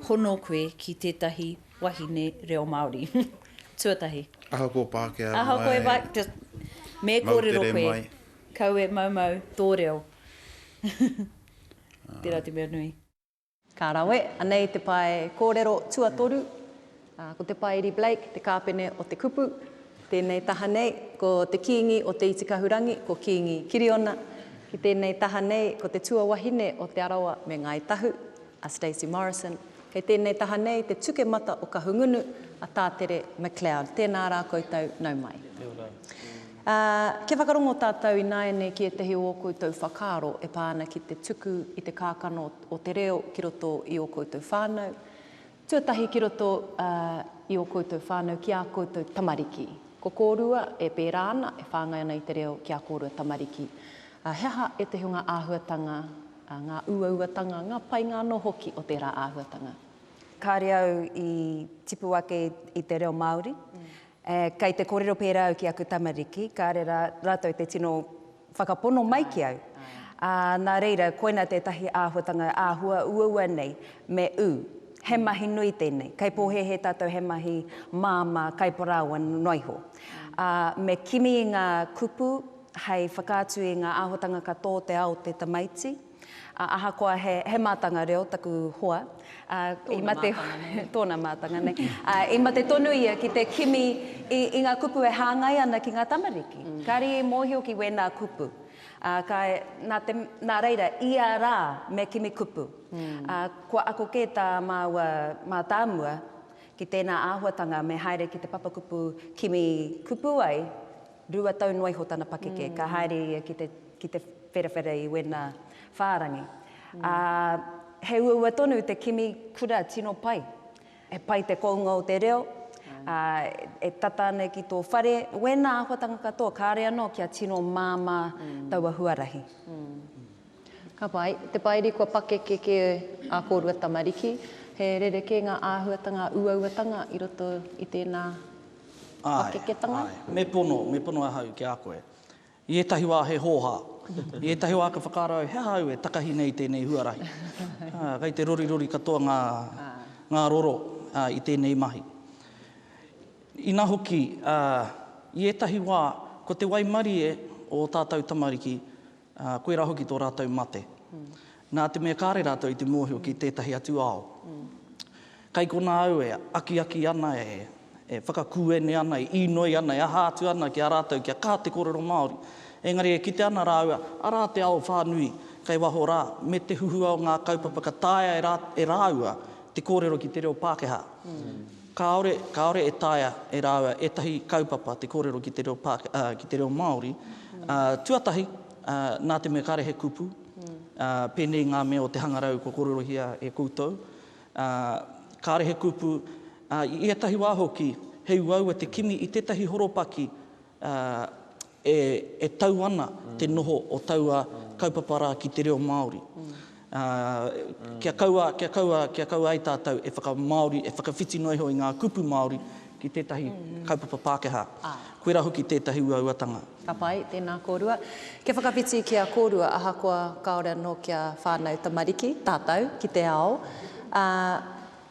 hono koe ki tētahi wahine reo Māori. Tuatahi. Ahakoa Pākehā mai. Ahakoa e Pākehā, just, me kōrero koe. Moutere mai. Kaua e maumau tō reo. Tērā te mea nui. Ka rawe, anei te pae kōrero tuatoru, ko Te Paeri Blake te kāpene o te kupu, tēnei taha nei, ko te Kīngi o Te Itikahurangi, ko Kīngi Kiriona, ki tēnei taha nei, ko te tuawahine o Te Arawa me Ngāi Tahu, a Stacey Morrison, kei tēnei taha nei te tukemata o Kahungunu, a Tātere McLeod. Tēnā rā koutou, nau mai. Ā, kia whakarongo tātou ināianei ki ētahi o ō koutou whakaaro e pā ana ki te tuku i te kākano o te reo ki roto i ō koutou whānau, tuatahi ki roto i ō koutou whānau ki ā koutou tamariki. Ko kōrua e pērā ana, e whāngai ana i te reo ki ā kōrua tamariki. Ā, he aha ētahi o ngā āhuatanga, ngā uauatanga, ngā painga anō hoki o tērā āhuatanga? Kāre au i tipu ake i te reo Māori. Ē, kei te kōrero pērā au ki aku tamariki, kāre rā, rātou te tino whakapono mai ki au. Ā, nā reira, koina tētahi āhuatanga āhua uaua nei, me ū. He mahi nui tēnei. Kei pōhēhē tātou he mahi māmā kaiparāoa noa iho. Ā, me kimi i ngā kupu hei whakaatu i ngā āhuatanga ka tō te ao o te tamaiti. Ā, ahakoa he, he mātanga reo taku hoa, ā, i mate, tōna mātanga nei, ā, i mate tonu ia ki te kimi i, i ngā kupu e hāngai ana ki ngā tamariki. Kāre i mōhio ki wēnā kupu. Ā, ka, nā te, nā reira, ia rā me kimi kupu. Ā, kua ako kē tā māua mātāmua ki tēnā āhuatanga me haere ki te papakupu kimi kupu ai, Rua tau noa iho tana pakeke, ka haere ia ki te, ki te wherawhera i wena whārangi. Ā, he uaua tonu te kimi kura tino pai. He pai te kounga o te reo, ā, e tata ana ki tō whare, wēnā āhuatanga katoa, kāore anō kia tino māmā taua huarahi. Ka pai. Te Pairi kua pakeke kē ā kōrua tamariki, he rerekē ngā āhuatanga uauatanga i roto i tēnā pakeketanga. Āe, āe. Me pono, me pono ahau ki a koe. I ētahi wā he hōhā. I ētahi wā ka whakaaro au, he aha au e takahi nei i tēnei huarahi? Ā, kei te rorirori katoa ngā, ngā roro, ā, i tēnei mahi. Inā hoki, ā, i ētahi wā, ko te waimarie o ō tātou tamariki, ā, koirā hoki tō rātou mate. Nā te mea kāre rātou i te mōhio ki tētahi atu ao, kei konā au e akiaki ana, e whakakuene ana, e īnoi ana, e aha atu ana ki a rātou kia kā te kōrero Māori. Engari e kite ana rāua, arā te ao whānui kei waho rā, me te huhua o ngā kaupapa ka taea e rāua te kōrero ki te reo Pākehā. Kāore, kāore e taea e rāua ētahi kaupapa te kōrero ki te reo Pāke, ā, ki te reo Māori. Ā, tuatahi, ā, nā te mea kāre he kupu, ā, pēnei i ngā mea o te hangarau kua kōrerohia e koutou, ā, kāre he kupu, ā, i ētahi wā hoki, he uaua te kimi i tētahi horopaki, ā, e tau ana te noho o taua kaupapa rā ki te reo Māori. Kia kaua, kia kaua, kia kaua ai tātou e whakamāori, e whakawhiti noa iho i ngā kupu Māori ki tētahi kaupapa Pākehā. Koirā hoki tētahi uauatanga. Ka pai, tēnā kōrua. Kia whakawhiti ki a kōrua, ahakoa kāore anō kia whānau tamariki tātou ki te ao, ā,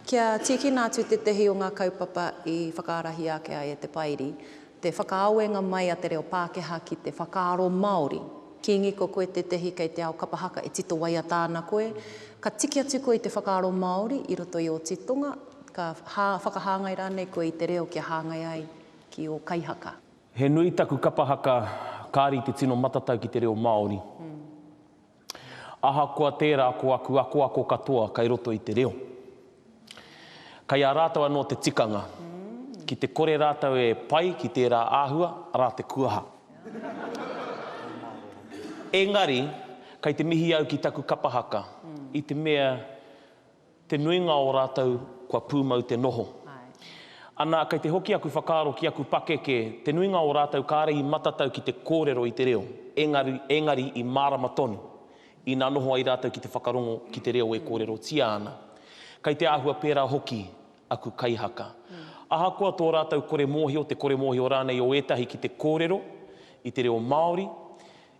kia tīkina atu tētahi o ngā kaupapa i whakaarahia ake ai e te Pairi, Te whakaawenga mai a te reo Pākehā ki te whakaaro Māori. Kīngi, ko koe tētehi kei te ao kapa haka e tito waiata ana koe. Ka tiki atu koe i te whakaaro Māori i roto i ō titonga, ka whakahāngai rānei koe i te reo kia hāngai ai ki ō kaihaka. He nui taku kapa haka, kāri te tino matatau ki te reo Māori. Ahakoa tērā ko aku akoako katoa kei roto i te reo. Kei a rātou anō te tikanga. Ki te kore rātou e pai ki tērā āhua, arā te kuaha. Engari, kei te mihi au ki taku kapa haka, i te mea, Te nuinga o rātou kua pūmau te noho. Ana, kei te hoki aku whakaaro ki aku pakeke, te nuinga o rātou kāre i matatau ki te kōrero i te reo, engari, engari i mārama tonu ina noho ai rātou ki te whakarongo ki te reo e kōrerotia ana. Kei te āhua pērā hoki aku kaihaka. Ahakoa tō rātou kore mōhio, te kore mōhio rānei o ētahi ki te kōrero i te reo Māori,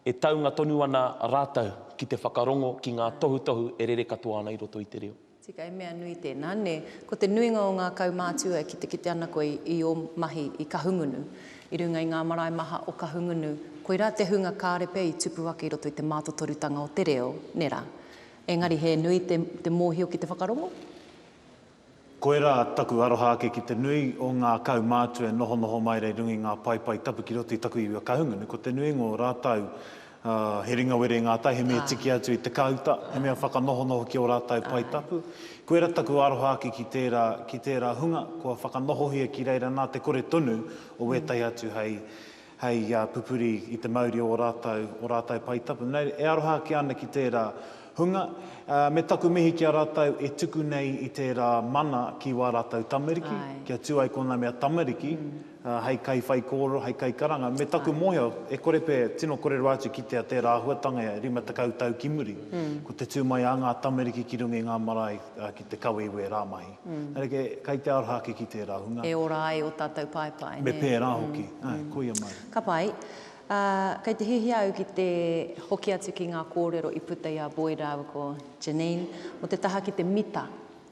E taunga tonu ana rātou ki te whakarongo ki ngā tohutohu e rere katoa ana i roto i te reo. Tika, he mea nui tēnā, nē. Ko te nuinga o ngā kaumātua e kitekite ana koe i ō mahi i Kahungunu, i runga i ngā marae maha o Kahungunu, koirā te hunga kāre pea i tupu ake i roto i te mātotorutanga o te reo, nē rā. Engari he nui te mōhio ki te whakarongo? Koirā taku aroha ake ki te nui o ngā kaumātua e nohonoho mai rei runga i ngā paepae tapu ki roto i taku iwi a Kahungunu, ko te nui ngō rātau he ringawere ngātai, he mea tiki atu i te kāuta, he mea whakanohonoho ki ō rātau pae tapu. Koirā taku aroha ake ki tērā, ki tērā hunga kua whakanohohia ki reira nā te kore tonu o wētahi atu hei hei pupuri i te mauri o ō rātou, ō rātou pae tapu. Nei, e aroha ake ana ki tērā hunga, me taku mihi ki a rātou e tuku nei i tērā mana ki wā rātou tamariki, kia tū ai kōnā mea tamariki, hei kaiwhaikōrero, hei kaikaranga, me taku mōhio, e kore pea e tino korero atu ki te a tērā āhuatanga e 50 tau ki muri, ko te tū mai a ngā tamariki ki runga i ngā marae ki te kawe i wērā mahi. Rerekē, kei te aroha ake ki tērā hunga. E ora ai ō tātou paepae, nē? Me pērā hoki. Āe, koia mai. Ka pai. Ā, kei te hiahia au ki te hoki atu ki ngā kōrero i puta i a Boyd rāua ko Janine, mō te taha ki te mita,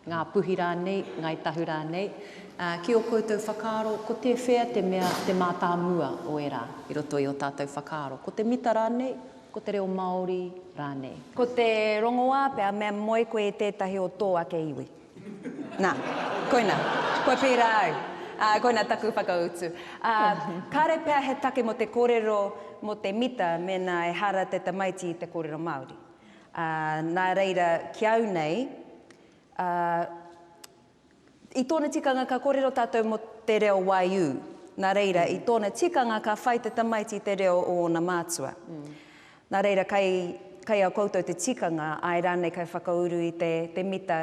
Ngā Puhi rānei, Ngāi Tahu rānei, ā, ki ō koutou whakaaro, ko tēwhea te mea te mātāmua o ērā i roto i ō tātou whakaaro, ko te mita rānei? Ko te reo Māori rānei. Ko te rongoā pea mea moe koe i tētahi o tō ake iwi. Nā, koina, kua pērā au. Ā, koina taku whakautu. Ā, kāre pea he take mō te kōrero mō te mita mēnā ehara te tamaiti i te kōrero Māori. Ā, nā reira, ki au nei, ā, I tōna tikanga ka kōrero tātou mō te reo Waiū, nā reira i tōna tikanga ka whai te tamaiti i te reo o ōna mātua. Nā reira kai, kai a koutou te tikanga, āe rānei kai whakauru i te, te mita,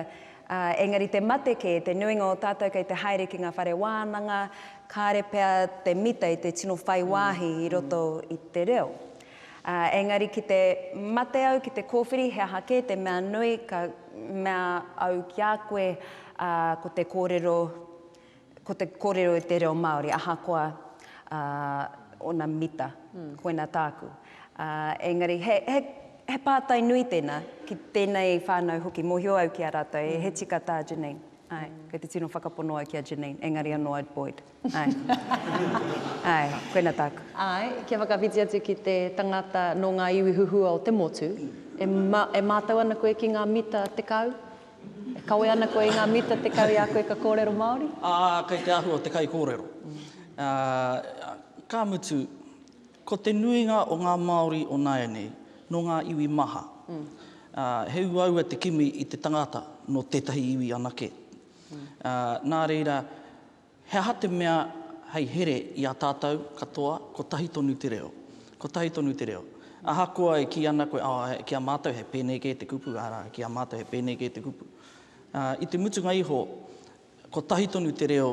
ā, engari te mate kē, te nuinga o tātou kei te haere ki ngā whare wānanga, kāre pea te mita i te tino whai wāhi i roto i te reo. Ā, engari ki te mate au ki te kōwhiri he aha kē te mea nui ka mea au ki a koe, ā, ko te kōrero, ko te kōrero i te reo Māori, ahakoa, ā, ōna mita, koina tāku. Ā, engari he, he, he pātai nui tēnā, ki tēnei whānau hoki, mōhio au ki a rātou, he tika tā Janine. Āe, kei te tino whakapono au ki a Janine, engari anō I'd buoyed. Āe. Āe, koina tāku. Āe, kia whakawhiti atu ki te tangata nō ngā iwi huhua o te motu, e, e mātau ana koe ki ngā mita tekau? E kawe ana koe i ngā mita tekau i a koe ka kōrero Māori? Ā, kei te āhua o te kaikōrero. Ā, ka mutu, ko te nuinga o ngā Māori o nāianei, nō ngā iwi maha. Ā, he uaua te kimi i te tangata nō tētahi iwi anake. Ā, nā reira, He aha te mea hei here i a tātou katoa kotahi tonu te reo? Kotahi tonu te reo. Ahakoa e kī ana koe, oh, ki a mātou he pēnei kē te kupu, arā, ki a mātou he pēnei kē te kupu. I te mutunga iho, kotahi tonu te reo,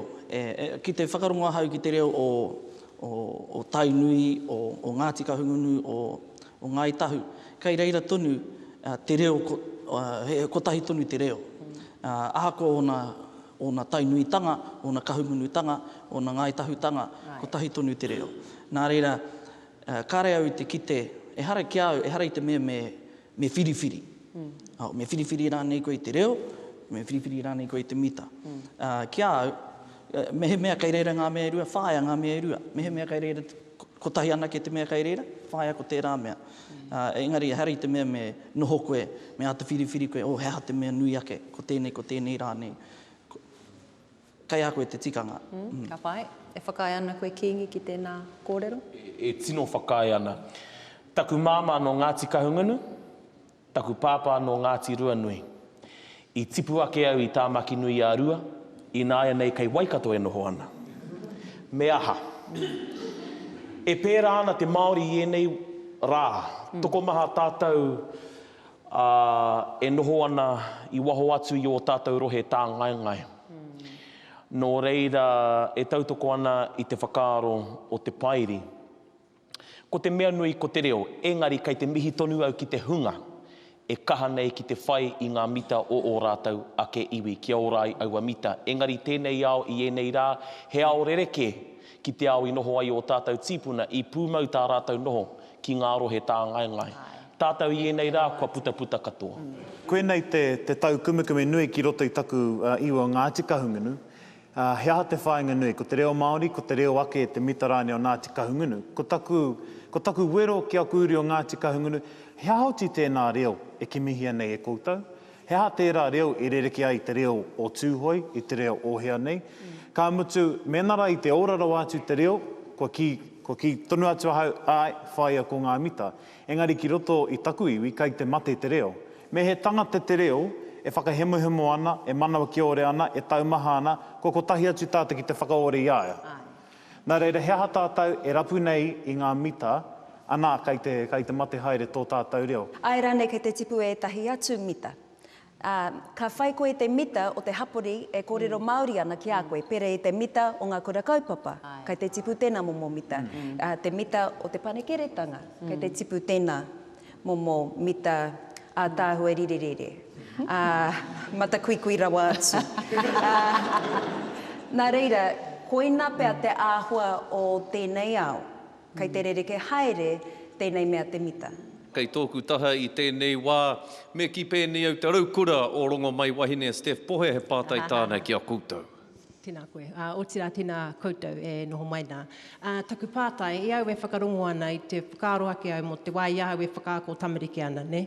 ki te whakarongo ahau ki te reo o Tainui, o Ngāti Kahungunu, o Ngāi Tahu, kei reira tonu te reo, kotahi tonu te reo. Ahakoa ōna ōna taunuitanga, ōna kahumunutanga, ōna Ngāi Tahutanga, kotahi tonu te reo. Nā reira, kāre au i te kite, ehara ki a au, ehara i te mea me whiriwhiri. Me whiriwhiri rānei koe i te reo, me whiriwhiri rānei koe i te mita. Ki a au, mehemea kei reira ngā mea e rua, whāia ngā mea e rua. Mehemea kei reira te. Kotahi anake te mea kei reira, whaia ko tērā mea. Engari ehara i te mea me noho koe, me āta whiriwhiri koe, oh he aha te mea nui ake, ko tēnei, ko tēnei rānei. Kei a koe te tikanga. Ka pai. E whakaae ana koe Kīngi ki tēnā kōrero? E tino whakaae ana. Taku māmā nō Ngāti Kahungunu, Taku pāpā nō Ngāti Ruanui. I tipu ake au i Tāmaki-nui-ā-Rua, ināianei kei Waikato e noho ana. Me aha? E pērā ana te Māori i ēnei rā, tokomaha tātou e noho ana i waho atu i ō tātou rohe tāngaengae. Nō reira e tautoko ana i te whakaaro o te Pairi. Ko te mea nui ko te reo, engari kei te mihi tonu au ki te hunga e kaha nei ki te whai i ngā mita o ō rātou ake iwi kia ora ai aua mita. Engari tēnei ao i ēnei rā, he ao rerekē ki te ao i noho ai ō tātou tīpuna, i pūmau tā rātou noho ki ngā rohe tāngaengae. Tātou i ēnei rā kua putaputa katoa. Koinei te tau kumekume nui ki roto i taku iwa Ngāti Kahungunu. Ā, he aha te whāinga nui? Ko te reo Māori, ko te reo ake te mita rānei o Ngāti Kahungunu. Ko taku, ko taku wero ki aku uri o Ngāti Kahungunu, he aha oti tēnā reo e kimihia nei e koutou? He aha tērā reo e rerekē ai i te reo o Tūhoe, i te reo o hea nei? Ka mutu, mēnā rā i te ora rawa atu te reo, kua kī, kua kī tonu atu ahau, āe, whāia ko ngā mita. Engari ki roto i taku iwi kai te mate te reo. Me he tangata te reo, e whakahemohemo ana, e manawa kiore ana, e taumaha ana, kua kotahi atu tātou ki te whakaore i a ia. Nā reira he aha tātou e rapu nei i ngā mita, anā, kai te, kai te mate haere tō tātou reo? Āe rānei kei te tipu ētahi atu mita? Ā, ka whai koe te mita o te hapori e kōrero Māori ana ki a koe, pērā i te mita o ngā kura kaupapa, kei te tipu tēnā momo mita, ā, te mita o te panekiretanga, kei te tipu tēnā momo mita ātaahua rirerire, ā, matakuikui rawa atu. Ā, nā reira, koina pea te āhua o tēnei ao. Kei te rerekē haere tēnei mea te mita. Kei tōku taha i tēnei wā, me kī pēnei au te raukura o Rongomaiwahine a Steph Pohe he pātai tāna ki a koutou. Tēnā koe. Ā, otirā tēnā koutou e noho mai nā. Ā, taku pātai, i a au e whakarongo ana, i te whakaaro ake au mō te wā i a au e whakaako tamariki ana, nē?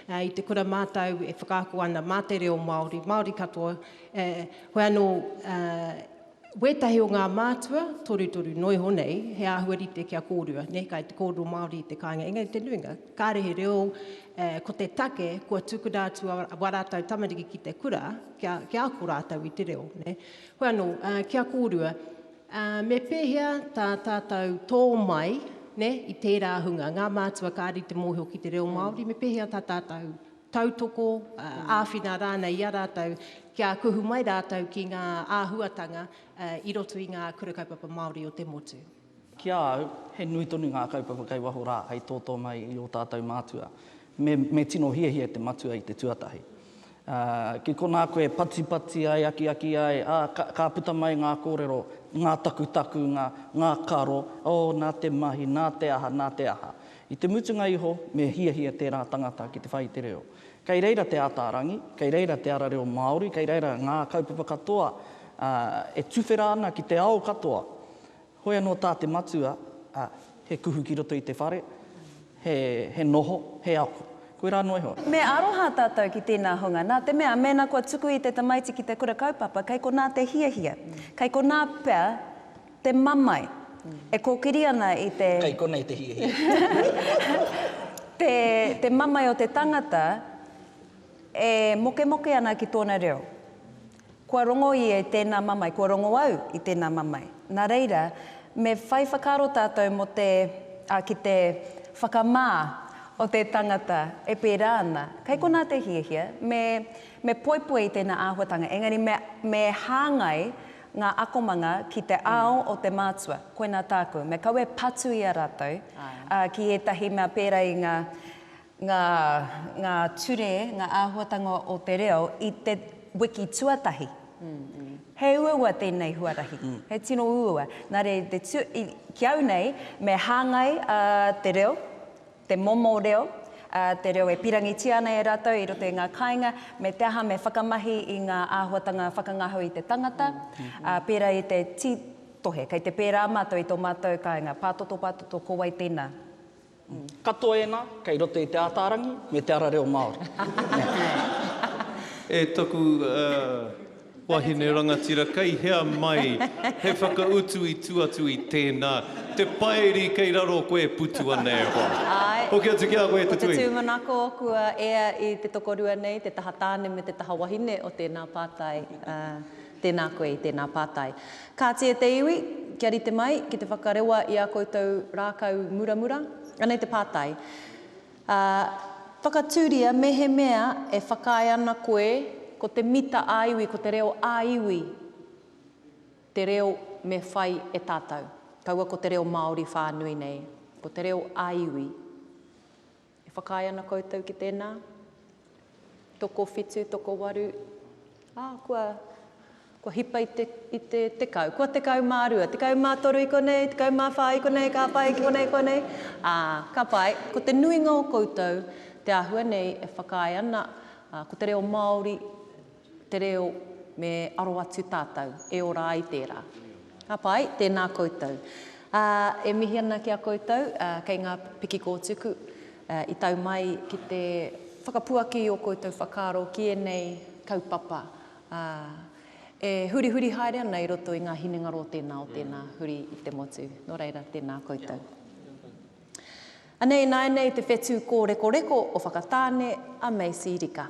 Ā, i te kura mātou e whakaako ana mā te reo Māori, Māori katoa, ē, koia anō, ā, Wētahi o ngā mātua, torutoru noa iho nei, he āhua rite kia kōrua, nē, kai te kōrero Māori i te kāinga, engari te nuinga, kāre he reo, ko te take, kua tukuna atu wā rātou tamariki ki te kura, kia, kia ako rātou i te reo, nē. Hoi anō, kia kōrua, me pēhea tā tātou tō mai, nē, i tērā hunga, ngā mātua kāre i te mōhio ki te reo Māori, me pēhea tā tātou tautoko, āwhina rānei i a rātou kia kuhu mai rātou ki ngā āhuatanga i roto i ngā Kura Kaupapa Māori o te motu. Ki a au, he nui tonu ngā kaupapa kei waho rā hei tōtō mai i ō tātou mātua. Me, me tino hiahia te matua i te tuatahi. Ki konā koe patipati ai, akiaki ai, ā, ka, ka puta mai ngā kōrero, ngā takutakunga, ngā karo, oh, nā te mahi, nā te aha, nā te aha. I te mutunga iho, me hiahia tērā tangata ki te whai i te reo. Kei reira te āta arangi, kei reira te ara reo Māori, kei reira ngā kaupapa katoa e tuwhera ana ki te ao katoa. Hoi anō tā te matua, he kuhu ki roto i te whare, he noho, he ako. Koirā noa iho. Me aroha tātou ki tēnā hunga, nā te mea, mēnā kua tuku i te tamaiti ki te kura kaupapa, kei konā te hiahia, kei konā pea, Te mamae. E kōkiri ana i te. Kei konei te hiahia. Te, te mamae o te tangata e mokemoke ana ki tōna reo. Kua rongo ia i tēnā mamae, kua rongo au i tēnā mamae. Nā reira, me whai whakaaro tātou mō te, ā, ki te whakamā o te tangata e pērā ana. Kei konā te hiahia, me, me poipoi i tēnā āhuatanga, engari me, me hāngai ngā akomanga ki te ao o te mātua, koinā tāku, me kaua e patu i a rātou ki ētahi mea pērā i ngā, ngā, ngā ture, ngā āhuatanga o te reo i te wiki tuatahi. He uaua tēnei huarahi, he tino uaua. Nā reira, i te, ki au nei, me hāngai te reo, te momo reo, ā, te reo e pīrangitia ana e rātou i roto i ngā kāinga, me te aha me whakamahi i ngā āhuatanga whakangaho i te tangata, ā, pērā i te tītohe, kei te pērā mātou i tō mātou kāinga, pātoto, pātoto, ko wai tēnā? Hm. Katoa ēnā, kei roto i te ātārangi me te ara reo Māori. Nē. E toku, ā, Wahine rangatira, kei hea mai he whakautu i tu atu i tēnā, te paeri kei raro koe e putu ana e hoa. Āe. Hoki atu ki a koe te tuinga. Ko te tūmanako kua ea i te tokorua nei te taha tāne me te taha wahine o tēnā pātai, ā, tēnā koe i tēnā pātai. Kāti e te iwi, kia rite mai ki te whakarewa i ā koutou rākau muramura. Anei te pātai. Ā, whakatūria mehemea e whakaae ana koe ko te mita ā-iwi, ko te reo ā-iwi te reo me whai e tātou. Kaua ko te reo Māori whānui nei, ko te reo ā-iwi. E whakaae ana koutou ki tēnā? Tokowhitu, tokowaru, ā, kua, kua hipa i te, i te tekau. Kua tekau mā rua, tekau mā toru i konei, tekau mā whā i konei, ka pai ki konei, konei. Ā, ka pai, ko te nuinga o koutou te āhua nei e whakaae ana, ā, ko te reo Māori, te reo me aro atu tātou e ora ai tērā. Ka pai, tēnā koutou. Ā, e mihi ana ki a koutou, ā, kei ngā piki kōtuku, ā, i tau mai ki te whakapuaki i ō koutou whakaaro ki ēnei kaupapa, ā, e hurihuri haere ana i roto i ngā hinengaro o tēnā, o tēnā, huri i te motu. Nō reira, tēnā koutou. Anei ināianei te whetū kōrekoreko o Whakatāne a Macy Rika.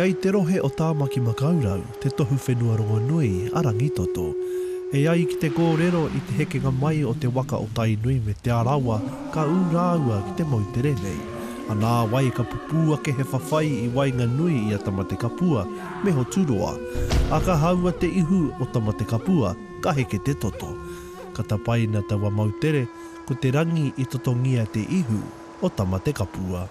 Kei te rohe o Tāmaki Makaurau te tohu whenua rongonui a Rangitoto. E ai ki te kōrero i te hekenga mai o te waka o Tainui me Te Arawa ka ū rāua ki te moutere nei. A nāwai ka pupū ake he whawhai i waenganui i a Tamatekapua me Hoturoa, a ka haua te ihu o Tamatekapua, ka heke te toto. Ka tapaina taua moutere, ko te rangi i totongia te ihu o Tamatekapua.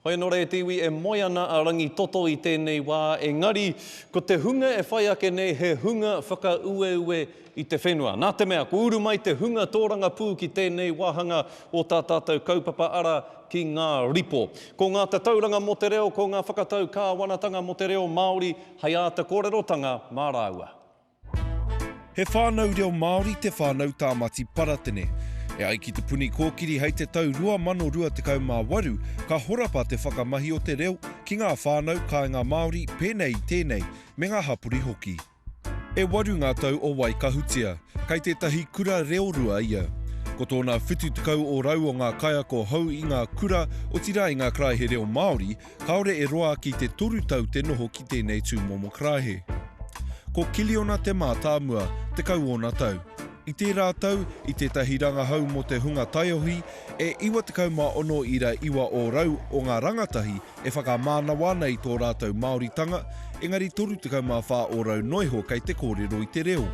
Hoi anō rā e te iwi e moe ana a Rangitoto i tēnei wā engari ko te hunga e whai ake nei he hunga whakaueue i te whenua. Nā te mea kua uru mai te hunga tōrangapū ki tēnei wāhanga o tā tātou kaupapa ara ki ngā ripo. Ko ngā tatauranga mō te reo ko ngā whakatau kāwanatanga mō te reo Māori hei āta kōrerotanga mā rāua. He whānau reo Māori te whānau Tāmati Paratene. E ai ki Te Puni Kōkiri hei te tau 2028 ka horapa te whakamahi o te reo ki ngā whānau kāinga Māori pēnei i tēnei me ngā hapori hoki. E waru ngā tau o Waikahutia, kei tētahi kura reorua ia. Ko tōna 70 ōrau o ngā kaiako hou i ngā kura, otirā i ngā karaehe reo Māori, Kāore e roa ki te toru tau te noho ki tēnei tūmomo karaehe. Ko Kiliona te mātāmua, tekau ōna tau. I tērā tau, i tētahi rangahau mō te hunga taiohi, e 96 ira iwa ōrau o ngā rangatahi e whakamānawa ana i tō rātou Māoritanga, engari 34 ōrau noa iho kei te kōrero i te reo.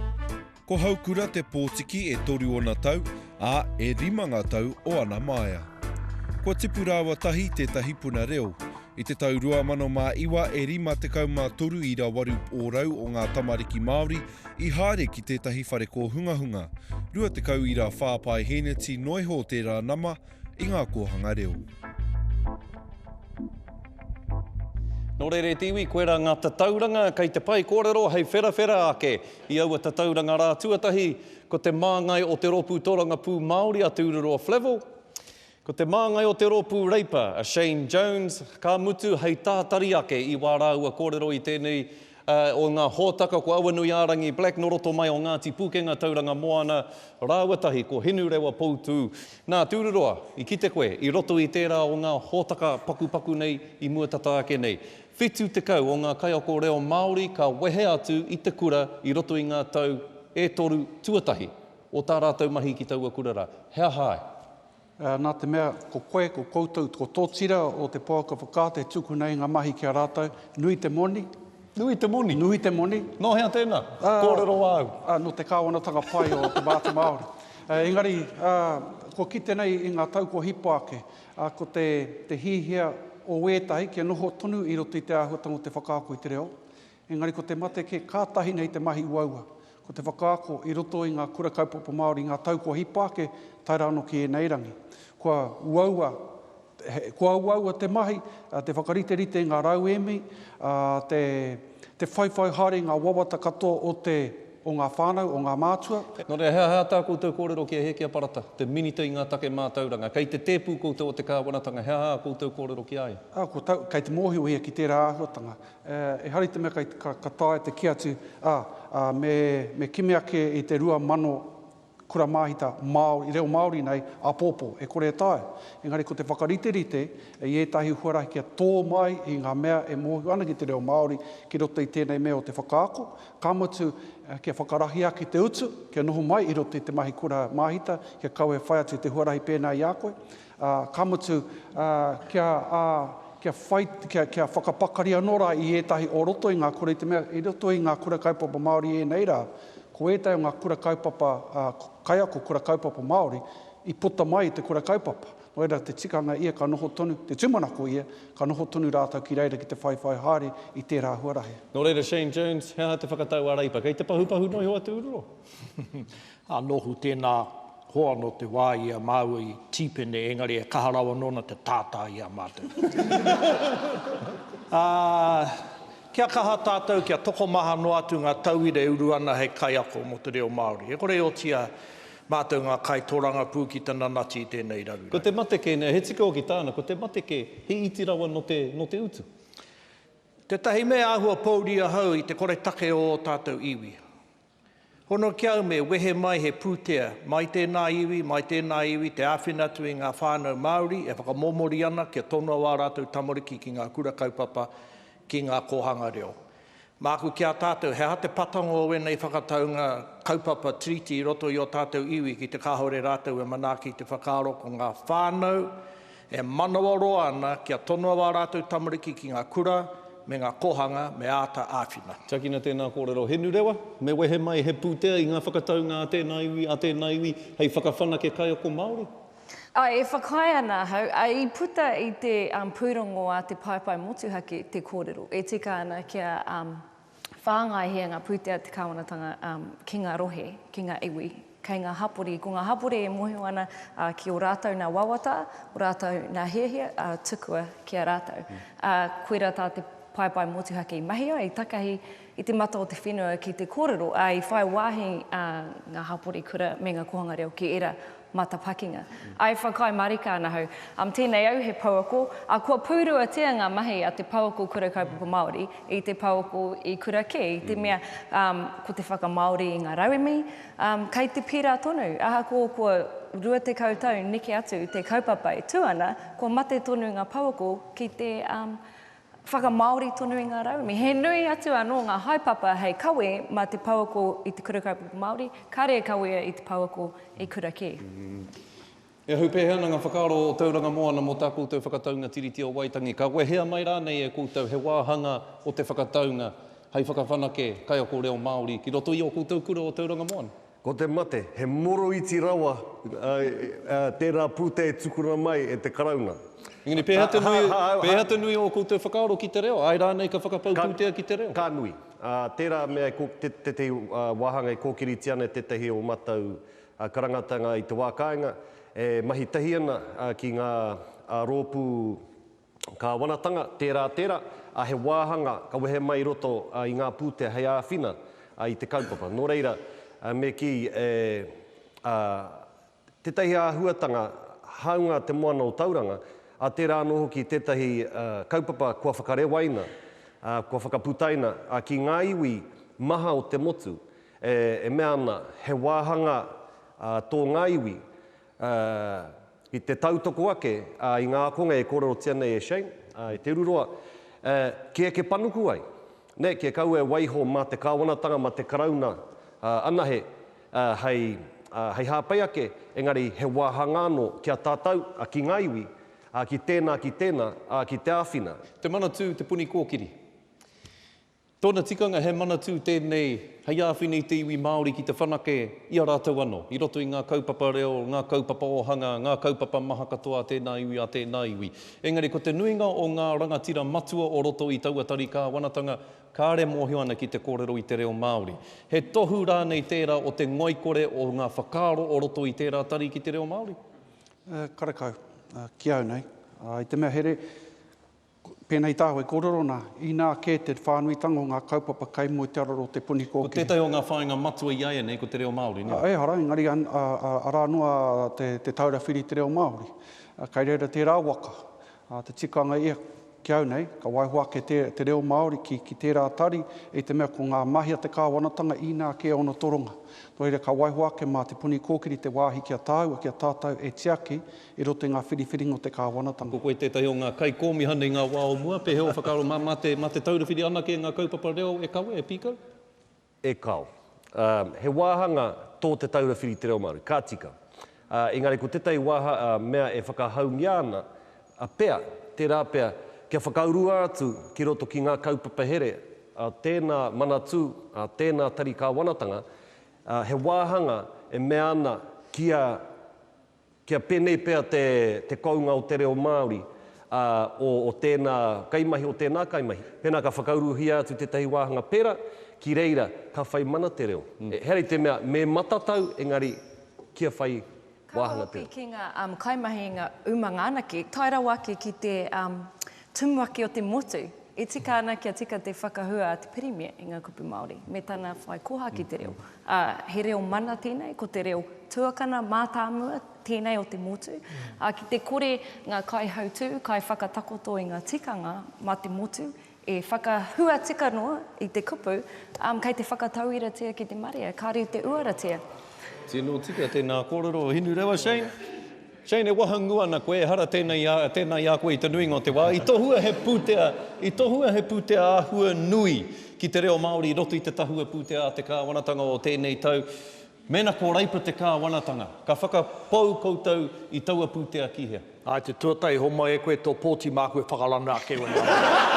Ko Haukura te pōtiki e toru ona tau, ā, e rima ngā tau o ana māia. Kua tipu rāua tahi tētahi puna reo. I te tau 2009 e 53 i rawaru ōrau o ngā tamariki Māori i haere ki tētahi whare kōhungahunga, 20 i ra whā paeheneti noa iho o tērā nama i ngā kōhanga reo. Nō reira e te iwi, koirā ngā tatauranga kei te whai kōrero hei wherawhera ake I aua tatauranga rā tuatahi, ko te māngai o te rōpū tōrangapū Māori a Te Ururoa Flavell, ko te māngai o te rōpū Reipa a Shane Jones, ka mutu hei tātari ake i wā rāua kōrero i tēnei o ngā hōtaka ko Awanuiārangi Black nō roto mai o Ngāti Pūkenga Tauranga Moana rāua tahi ko Hinurewa Poutū. Nā, Te Ururoa, i kite koe i roto i tērā o ngā hōtaka pakupaku nei i mua tata ake nei, Whitu tekau o ngā kaiako reo Māori ka wehe atu i te kura i roto i ngā tau e toru tuatahi o tā rātou mahi ki taua kura rā. He aha ai? Nā te mea, ko koe, ko koutou, ko tō tira o te pouaka whakaata e tukuna i ngā mahi ki a rātou, nui te moni. Nui te moni? Nui te moni. Nō hea tēnā? Kōrero āu. Nō te kāwanatanga pai o te Māori. Engari, kua kite nei i ngā tau kua hipa ake, ā, ko te, te hiahia o ētahi kia noho tonu i roto i te āhuatanga o te whakaako i te reo, engari ko te mate kē kātahi nei te mahi uaua, ko te whakaako i roto i ngā kura kaupapa Māori i ngā tau kua hipa ake tae rā anō ki ēnei rangi. Kua uaua, kua uaua te mahi, te whakariterite i ngā rauemi, ā, te, te whaiwhai haere i ngā wawata katoa o te. o ngā whānau, o ngā mātua. Nō reira, he aha tā koutou kōrero ki a Hēkia Parata, te Minita i ngā Take Mātauranga? Kei te tēpū koutou o te Kāwanatanga, he aha ā koutou kōrero ki a ia? Ko tau, kei te mōhiohia ki tērā āhuatanga. Ehara i te mea kei, ka taea te kī atu, ā, me, me kimi ake i te 2000, kura māhita Māori, reo Māori nei, āpōpō, e kore e taea. Engari ko te whakariterite i ētahi huarahi kia tō mai i ngā mea e mōhio ana ki te reo Māori ki roto i tēnei mea o te whakaako, ka mutu, kia whakarahi ake te utu, kia noho mai i roto i te mahi kura māhita, kia kaua e whai atu i te huarahi pēnā i a koe. Ā, ka mutu, ā, kia, ā, kia whai, kia, kia whakapakari anō rā i ētahi o roto i ngā kura, i te mea, i roto i ngā kura kaupapa Māori ēnei rā, ko ētahi o ngā kura kaupapa, ā, kaiako kura kaupapa Māori, i puta mai i te kura kaupapa. Nō reira, te tikanga ia ka noho tonu, te tūmanako ia, ka noho tonu rātou ki reira ki te whaiwhai haere i tērā huarahi. Nō reira, Shane Jones, he aha te whakatau a Reipa? Kei te pahupahu noa iho atu uru? Ā, nōku tēnā hoa nō te wā i a māua i tīpene, engari e kaha rawa nōna te tātā i a mātou. Ā, kia kaha tātou kia tokomaha noa atu ngā tauira e uru ana hei kaiako mō te reo Māori. E kore e otia mātou ngā kaitōrangapū ki te nanati i tēnei raruraru. Ko te mate kē nei, he tika hoki tāna, ko te mate kē, he iti rawa nō te, nō te utu. Tētahi mea āhua pōuri ahau i te koretake o ō tātou iwi. Hono ki au me wehe mai he pūtea, mai tēnā iwi, mai tēnā iwi, te āwhina atu i ngā whānau Māori e whakamōmori ana kia tonoa ā rātou tamariki ki ngā kura kaupapa, ki ngā kōhanga reo. Māku ki a tātou, he aha te pakanga o ēnei whakataunga kaupapa, treaty, i roto i ō tātou iwi ki te kāore rātou e manaaki i te whakaaro ko ngā whānau, E manawaroa ana kia tonoa wā rātou tamariki ki ngā kura me ngā kōhanga me āta āwhina. Tiakina tēnā kōrero Henurewa, me wehe mai he pūtea i ngā whakataunga a tēnā iwi, a tēnā iwi hei whakawhanake kaiako Māori. Āe, e whakaae ana ahau, ā, i puta i te pūrongo a te paepae motuhake te kōrero e tika ana kia whāngai hē ngā pūtea te kāwanatanga ki ngā rohe, ki ngā iwi, kei ngā hapori. Ko ngā hapori e mōhio ana ki ō rātou nā wawata, ō rātou nā hiahia tukua ki a rātou. Koirā tā te paepae motuhake i mahia, i takahi i te mata o te whenua ki te kōrero, ā, i whai wāhi ngā hapori kura me ngā kōhanga reo ki ērā matapakinga. I whakaae marika ana au, um, tēnei au he pouako, ā, kua pūruatia ngā mahi a te pouako Kura Kaupapa Māori i te pouako i kura kē, i te mea, um, ko te whakamāori i ngā rauemi, um, kei te pērā tonu, ahakoa kua 20 tau neke atu te kaupapa e tū ana, kua mate tonu ngā pouako ki te, um, Whakamāori tonu i ngā rauemi. He nui atu anō ngā haepapa hei kawe mā te pouako i te Kura Kaupapa Māori, kāre e kawea i te pouako i kura kē. E ahu pēhea ana ngā whakaaro o Tauranga Moana mō tā koutou whakataunga Tiriti o Waitangi? Ka wehea mai rānei e koutou he wāhanga o te whakataunga hei whakawhanake kaiako reo Māori ki roto i ō koutou kura o Tauranga Moana? Ko te mate, he moroiti rawa tērā pūtea e tukuna mai e te Karauna. Engari pēhea te nui, pēhea te nui o ō koutou whakaaro ki te reo, āe rānei ka whakapau pūtea ki te reo? Ka nui. Tērā mea e, tētahi wāhanga e kōkiritia ana e tētahi o mātou karangatanga i te wā kāinga, e mahi tahi ana ki ngā rōpū, Kāwanatanga, tērā, tērā, ā, he wāhanga ka wehe mai i roto i ngā pūtea hei āwhina i te kaupapa. Nō reira, me kī e, ā, tētahi āhuatanga hāunga te moana o Tauranga, ā, tērā anō hoki tētahi kaupapa kua whakarewaina, ā, kua whakaputaina ki ngā iwi maha o te motu, e, e mea ana he wāhanga tō ngā iwi, Ā, i te tautoko ake, ā, i ngā ākonga e kōrerotia nei e Shane, ā, e Te Ururoa, ā, kē eke panuku ai, nē, kē kaua e waiho mā te Kāwanatanga, mā te Karauna, ā, anahe, ā, hei, ā, hei hāpai ake, engari he wāhanga anō ki a tātou, ā, ki ngā iwi, ā, ki tēnā, ki tēnā, ā, ki te āwhina. Te Manatū, Te Puni Kōkiri. Tōna tikanga he manatū tēnei hei āwhina i te iwi Māori ki te whanake i a rātou anō, i roto i ngā kaupapa reo, ngā kaupapa ōhanga, ngā kaupapa maha katoa a tēnā iwi, a tēnā iwi. Engari ko te nuinga o ngā rangatira matua o roto i taua tari kāwanatanga, kāre mōhio ana ki te kōrero i te reo Māori. He tohu rānei tērā o te ngoikore o ngā whakaaro o roto i tērā tari ki te reo Māori? Karekau. Ki au nei, i te mea here, Pēnei tāu e kōrero ana, inā kē te whānuitanga o ngā kaupapa kai mua i te araro o te puni kōkiri. Ko tētahi o ngā whāinga matua i a ēnei ko te reo Māori, nē? Ehara, engari arā noa te Taura Whiri i te Reo Māori. Kai reira tērā waka, te tikanga ia ki au nei, ka waiho ake te reo Māori ki tērā tari, i te mea ko ngā mahi a te kāwanatanga inā kē ōna toronga. Nō reira, ka waiho ake mā te puni kōkiri te wāhi ki a tāua, ki a tātou e tiaki I roto i ngā whiriwhiringa o te kāwanatanga. Ko koe tētahi o ngā kaikōmihana i ngā wā o mua, pēhea ō whakaaro mā, mā te, mā te taurawhiri anake ngā kaupapa reo e kawe, e pīkau? E kao. Ā, he wāhanga tō te taurawhiri te reo Māori, ka tika. Ā, engari ko tētahi wāha, ā, mea e whakahaungia ana, a, pea, tērā pea, kia whakaurua atu ki roto ki ngā kaupapa here a tēnā manatū, a tēnā tari kāwanatanga, ā, he wāhanga e mea ana kia Kia pēnei pea te te kounga o te reo Māori, ā, o o tēnā kaimahi, o tēnā kaimahi. Pēnā ka whakauruhia atu tētahi wāhanga pērā, ki reira ka whai mana te reo. He hari te mea me matatau, engari kia whai wāhanga te reo. Ka hoki ki ngā kaimahi, ngā umanga anake, tae rawa ake ki te Tumuaki o te motu, e tika ana kia tika te whakahua a te Pirimia i ngā kupu Māori me tana whai koha ki te reo, ā, he reo mana tēnei, ko te reo tuakana mātāmua tēnei o te motu, ā, ki te kore ngā kaihautū, kaiwhakatakoto i ngā tikanga mā te motu e whakahua tika noa i te kupu, ā, kei te whakatauiratia ki te marea, kāre i te uaratia. Tino tika tēnā kōrero Hinurewa Shane. Jane, e wahangū ana koe, ehara tēnei i a, tēnā i a koe i te nuinga o te wā. I tohua he pūtea, i tohua he pūtea āhua nui ki te reo Māori i roto i te tahua pūtea a te Kāwanatanga o tēnei tau. Mēnā ko Reipa te Kāwanatanga, ka whakapau koutou i taua pūtea ki hea? Ā, i te tuatahi, homai e koe tō pōti māku e whakarana ake i ōna rā.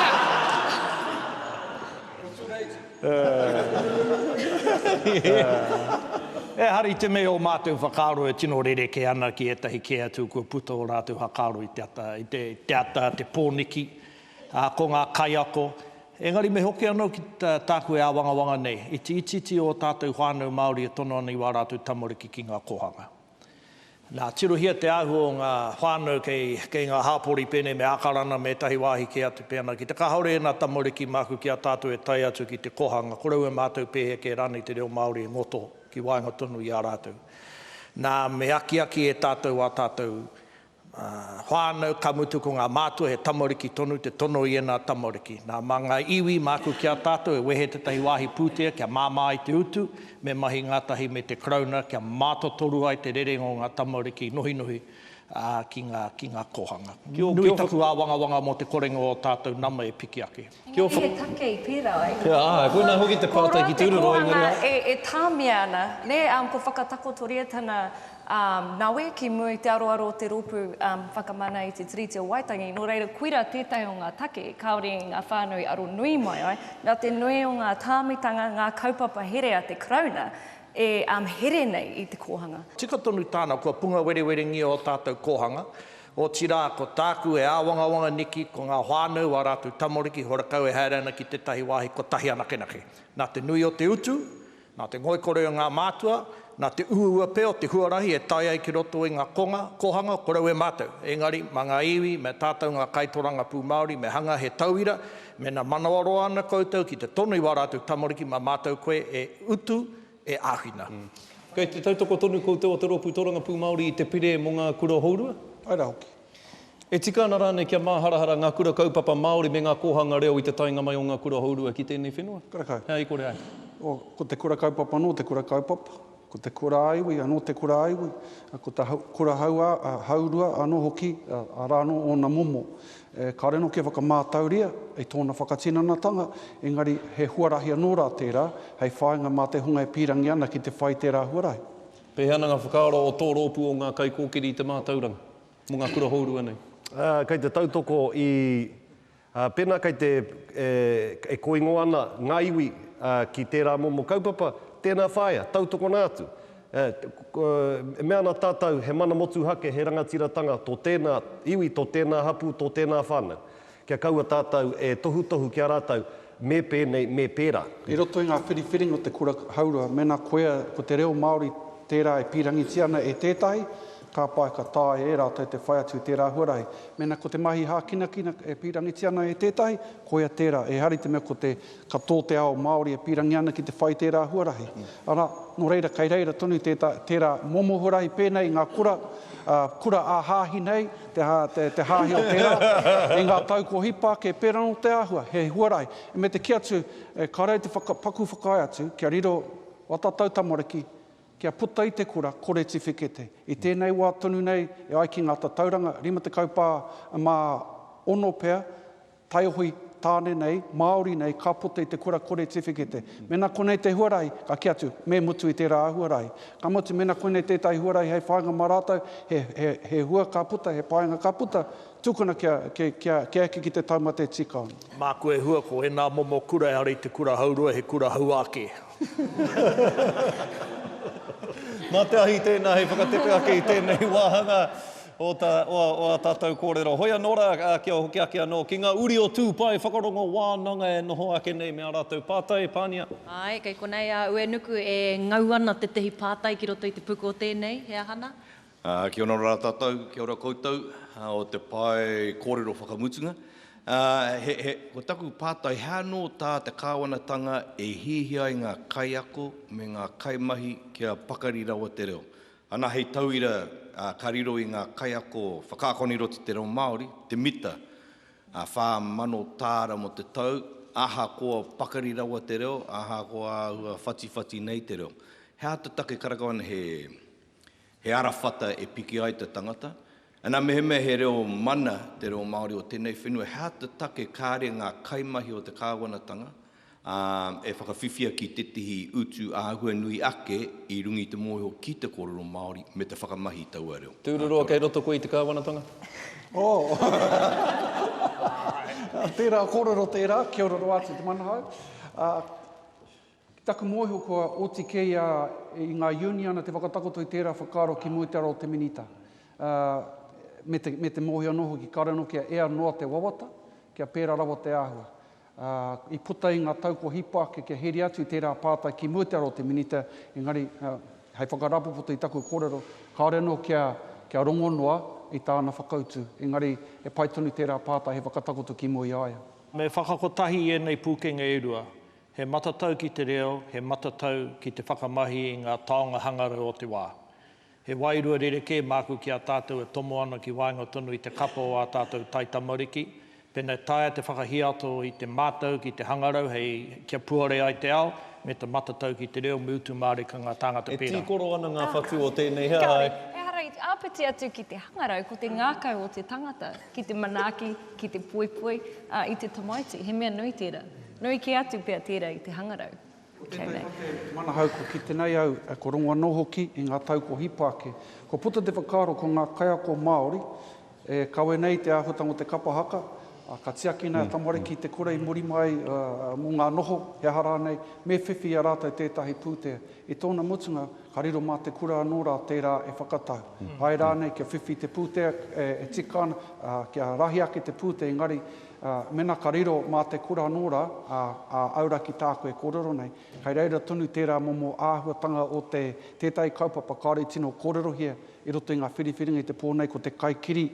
Ehara i te mea o mātou whakaaro e tino rerekē ana ki ētahi kē atu kua puta ō rātou whakaaro i te ata, i te, te ata, te pōniki, ā, ko ngā kaiako. Engari me hoki anō ki tā, tāku e āwangawanga nei, iti itiiti ō tātou whānau Māori e tono ana i wā rātou tamariki ki ngā kōhanga. Nā, tirohia te āhua o ngā whānau kei, kei ngā hāpori pēnei me Ākarana me ētahi wāhi kē atu pēnā ki te kāore ēnā tamariki māku ki a tātou e tae atu ki te kōhanga korou e mātau pēhea kē rānei te reo Māori e ngoto ki waenga tonu i a rātou. Nā, me akiaki e tātou ā tātou whānau, ka mutu ko ngā mātua he tamariki tonu, te tono i ēnā tamariki. Nā, mā ngā iwi, māku ki a tātou e wehe tētahi wāhi pūtea kia māmā ai te utu, me mahi ngātahi me te Karauna kia mātotoru ai te rerenga o ngā tamariki i nohinohi ki ngā kōhanga. Nui taku āwangawanga mō te korenga o ō tātou nama e piki ake. Engari he take i pērā ai. He āe, koinā hoki te pātai ki Tūroro, engari. Ko rā te kōhanga e, e tāmia ana, nē, um, ko whakatakotoria tana, um, nawe ki mua i te aroaro o te rōpū, um, whakamana i te Tiriti o Waitangi, nō reira koirā tētahi o ngā take kāore i ngā whānau aro nui mai ai, nā te nui o ngā tāmitanga, ngā kaupapa here a te Karauna e, um, here nei i te kōhanga. Tika tonu tāna, kua punga werewerengia ō tātou kōhanga, Otirā, ko tāku e āwangawanga neki ko ngā whānau, ā rātou tamariki, horakau e haere ana ki tētahi wāhi kotahi anakenake. Nā te nui o te utu, nā te ngoikore o ngā mātua, nā te uaua pea o te huarahi e tae ai ki roto i ngā konga, kohanga, korau e mātou. Engari, mā ngā iwi, mā tātou ngā kaitorangapū Māori me hanga he tauira, mēnā manawaroa ana koutou ki te tono i wā rātou tamariki mā mātou koe e utu e āwhina. Kei te tautoko tonu koutou o te Rōpū Tōrangapū Māori i te Pire mō ngā Kura Hourua? Pai rā hoki. E tika ana rānei kia māharahara ngā kura kaupapa Māori me ngā kōhanga reo i te taenga mai o ngā Kura Hourua ki tēnei whenua? Karekau. Hei ai kore ai. Ko te kura kaupapa anō te kura kaupapa, ko te kura ā-iwi anō te kura ā-iwi, ko te kura hourua anō hoki, arā anō ōna momo. E kare anō kia whakamātauria i tōna whakatinanatanga, engari he huarahi anō rā tērā hei whāinga mā te hunga e pīrangi ana ki te whai i tērā huarahi. Pēhea ana ngā whakaaro o tō rōpū o ngā kaikōkiri i te mātauranga mō ngā kura hourua nei? Kei te tautoko i, pēnā kei te, e kōingo ana ngā iwi ki tērā momo kaupapa, tēnā whāia, tautokona atu. E mea ana tātou, he mana motuhake, he rangatiratanga tō tēnā iwi, tō tēnā hapū, tō tēnā whānau. Kia kaua tātou e tohutohu ki a rātou, me pēnei, me pērā. I roto i ngā whiriwhiringa o te kura haurua, mēnā koia ko te reo Māori tērā e pīrangitia ana e tētahi, ka pai ka taea e rātou te whai atu i tērā huarahi. Mēnā ko te mahi hākinakina e pīrangitia ana e tētahi, koia tērā. Ehara i te mea ko te Ka tō te ao Māori e pīrangi ana ki te whai tērā huarahi, arā, nō reira kei reira tonu tētā, tērā momo huarahi pēnei i ngā kura, ā, kura ā-hāhi nei, te, te, te hāhi o tērā, i ngā tau kua hipa ake, pērā nō te āhua, he huarahi. E me te kī atu, e, ka rei te whaka, paku whakaae atu, kia riro watatau tamariki, kia puta i te kura, kore tiwhikete. I tēnei wā tonu nei, e ai ki ngā tatauranga, 50 pā, mā ono pea, Taihoe, Tāne nei, Māori nei, ka puta i te kura kore tiwhikete. Mēnā konei te huarahi, ka kī atu, me mutu i tērā huarahi. Ka mutu, mēnā koinei tētahi huarahi hei whāinga mā rātou, he, he, he hua ka puta, he painga ka puta, tukuna kia, kia, kia, kia eke ki te tauma tē tīkaona. Māku e hua, ko ēnā momo kura ehara i te kura hauroa, he kura hauā kē. Mā te ahi tēnā hei whakatepe ake i tēnei wāhanga. o ta, o, o a tatou korero. Hoi ano ra, a, kia hoki ake ano ki nga uri o tu pae whakarongo wananga e noho ake nei me a ratou patai, pania. Ae, kei konei a Uenuku e ngau ana tetehi patai ki roto i te puku o tenei, he aha na? A, kia ora ra tatou, kia ora koutou, a, o te pae korero whakamutunga. A, he, he, ko taku patai, he ano ta te kawanatanga e hiahia ai nga kaiako me nga kaimahi kia pakari rawa te reo? Ana hei tauira ka riro i ngā kaiako whakaakona i roto i te reo Māori, te mita, 4,000 tāra mō te tau, ahakoa pakari rawa te reo, ahakoa āhua whatiwhati nei te reo. He aha te take karakau ana he arawhata e piki ai te tangata, Ana mehemea he reo mana te reo Māori o tēnei whenua, he aha te take kāre ngā kaimahi o te kāwanatanga e whakawhiwhia ki tētehi utu āhua nui ake i runga i te mōhio ki te kōrero Māori me te whakamahi i taua reo? Tūruroa, kei roto koe i te kāwanatanga? Oh! Tērā kōrero tērā, kia ora noa atu te manahau. Ki taku mōhio kua oti kē ia i ngā uniana te whakatakoto i tērā whakaaro ki mua i te ara o te Minita, ā, me te, me te mōhio anō hoki kāore anō kia ea noa te wawata, kia pērā rawa te āhua. Ā, i puta i ngā tau kua hipa ake kia heria atu i tērā pātai ki mua i te ara o te Minita, engari, ā, hei whakarāpopoto i taku kōrero, kāore anō kia, kia rongo noa i tāna whakautu, engari he pai tonu tērā pātai hei whakatakoto ki mua i a ia. Me whakakotahi i ēnei pūkenga e rua, He matatau ki te reo, he matatau ki te whakamahi i ngā taonga hangarau o te wā. He wairua rerekē māku ki a tātou e tomo ana ki waenga tonu i te kapa o ā tātou taitamariki, pēnā e taea te whakahiato i te mātau ki te hangarau hei kia puare ai te ao, me te matatau ki te reo, me utu mārika ngā tāngata pērā. E tīkoro ana ngā whatu o tēnei, he aha ai? Ehara i te āpiti atu ki te hangarau, ko te ngākau o te tangata. ki te manaaki, ki te poipoi, ā, i te tamaiti, he mea nui tērā. Nui kē atu pea tērā i te hangarau. Ko tēnei ko te manahau kua kite nei au, ā, kua rongo anō hoki i ngā tau kua hipa ake. Kua puta te whakaaro ko ngā kaiako Māori e kawe nei i te āhuatanga o te kapa haka, ā, ka tiaki nei a tamariki i te kura i muri mai mō ngā noho, he aha rānei, me whiwhi i a rātou tētahi pūtea. I tōna mutunga, Ka riro mā te kura anō rā tērā e whakatau. Āe rānei kia whiwhi te pūtea e tika ana, ā, kia rahi ake te pūtea engari, ā, mēnā ka riro mā te kura anō rā, ā, ā, aura ki tāku e kōrero nei, kei reira tonu tērā momo āhuatanga o te, tētahi kaupapa kāore i tino kōrerohia i roto i ngā whiriwhiringa i te pō nei ko te kaikiri,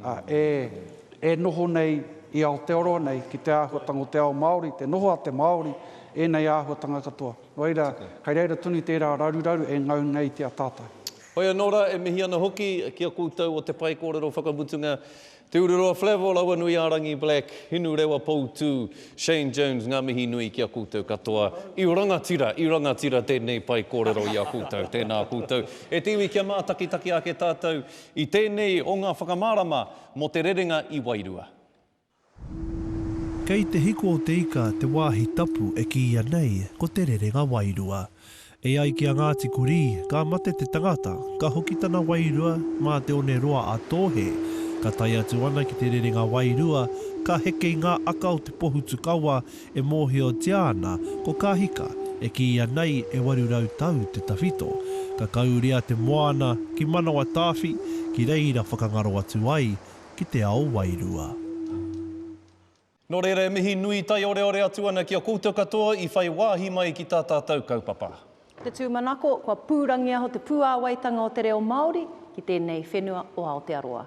ā, e, e noho nei i Aotearoa nei ki te āhuatanga o te ao Māori, te noho a te Māori, ēnei āhuatanga katoa. Nō reira, kei reira tonu tērā raruraru e ngau nei ki a tātou. Hoi anō rā, e mihi ana hoki ki a koutou o te pae kōrero whakamutunga, Te Ururoa Flavell, Awanuiārangi Black, Hinurewa Poutū, Shane Jones, ngā mihi nui ki a koutou katoa i rangatira, i rangatira tēnei pae kōrero i a koutou. Tēnā koutou. E te iwi kia mātakitaki ake tātou I tēnei o ngā whakamārama mō te rerenga i wairua. Kei Te Hiko o Te Ika te wāhi tapu e kīia nei ko Te Rerenga Wairua. E ai ki a Ngāti Kurī, ka mate te tangata, ka hoki tana wairua mā te one roa a Tōhe, ka tae atu ana ki Te Rerenga Wairua, ka heke i ngā aka o te pohutukawa E mōhiotia ana ko Kahika e kīia nei e 800 tau te tawhito, ka kauria te moana ki Manawatāwhi ki reira whakangaro atu ai ki te ao wairua. Nō reira e mihi nui taioreore atu ana ki a koutou katoa i whai wāhi mai ki tā tātou kaupapa. Te tūmanako, kua pūrangiaho te puāwaitanga o te reo Māori ki tēnei whenua o Aotearoa.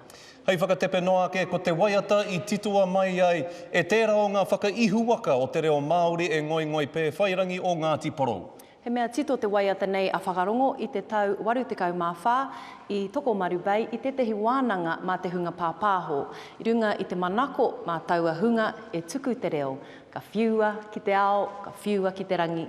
Hei whakatepe noa ake, ko te waiata i titoa mai ai e tērā o ngā whakaihuwaka o te reo Māori e Ngoingoi Pēwhairangi o Ngāti Porou. He mea tito te waiata nei a Whakarongo i te tau 84 i Tokomaru Bay i tētehi wānanga mā te hunga pāpāho. I runga i te manako mā taua hunga e tuku te reo, ka whiua ki te ao, ka whiua ki te rangi,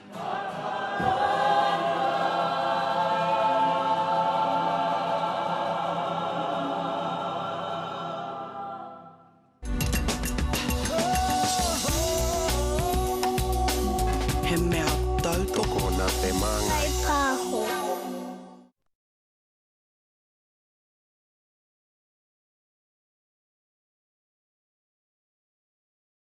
He mea tautoko nā te māngai. Kai Pāho.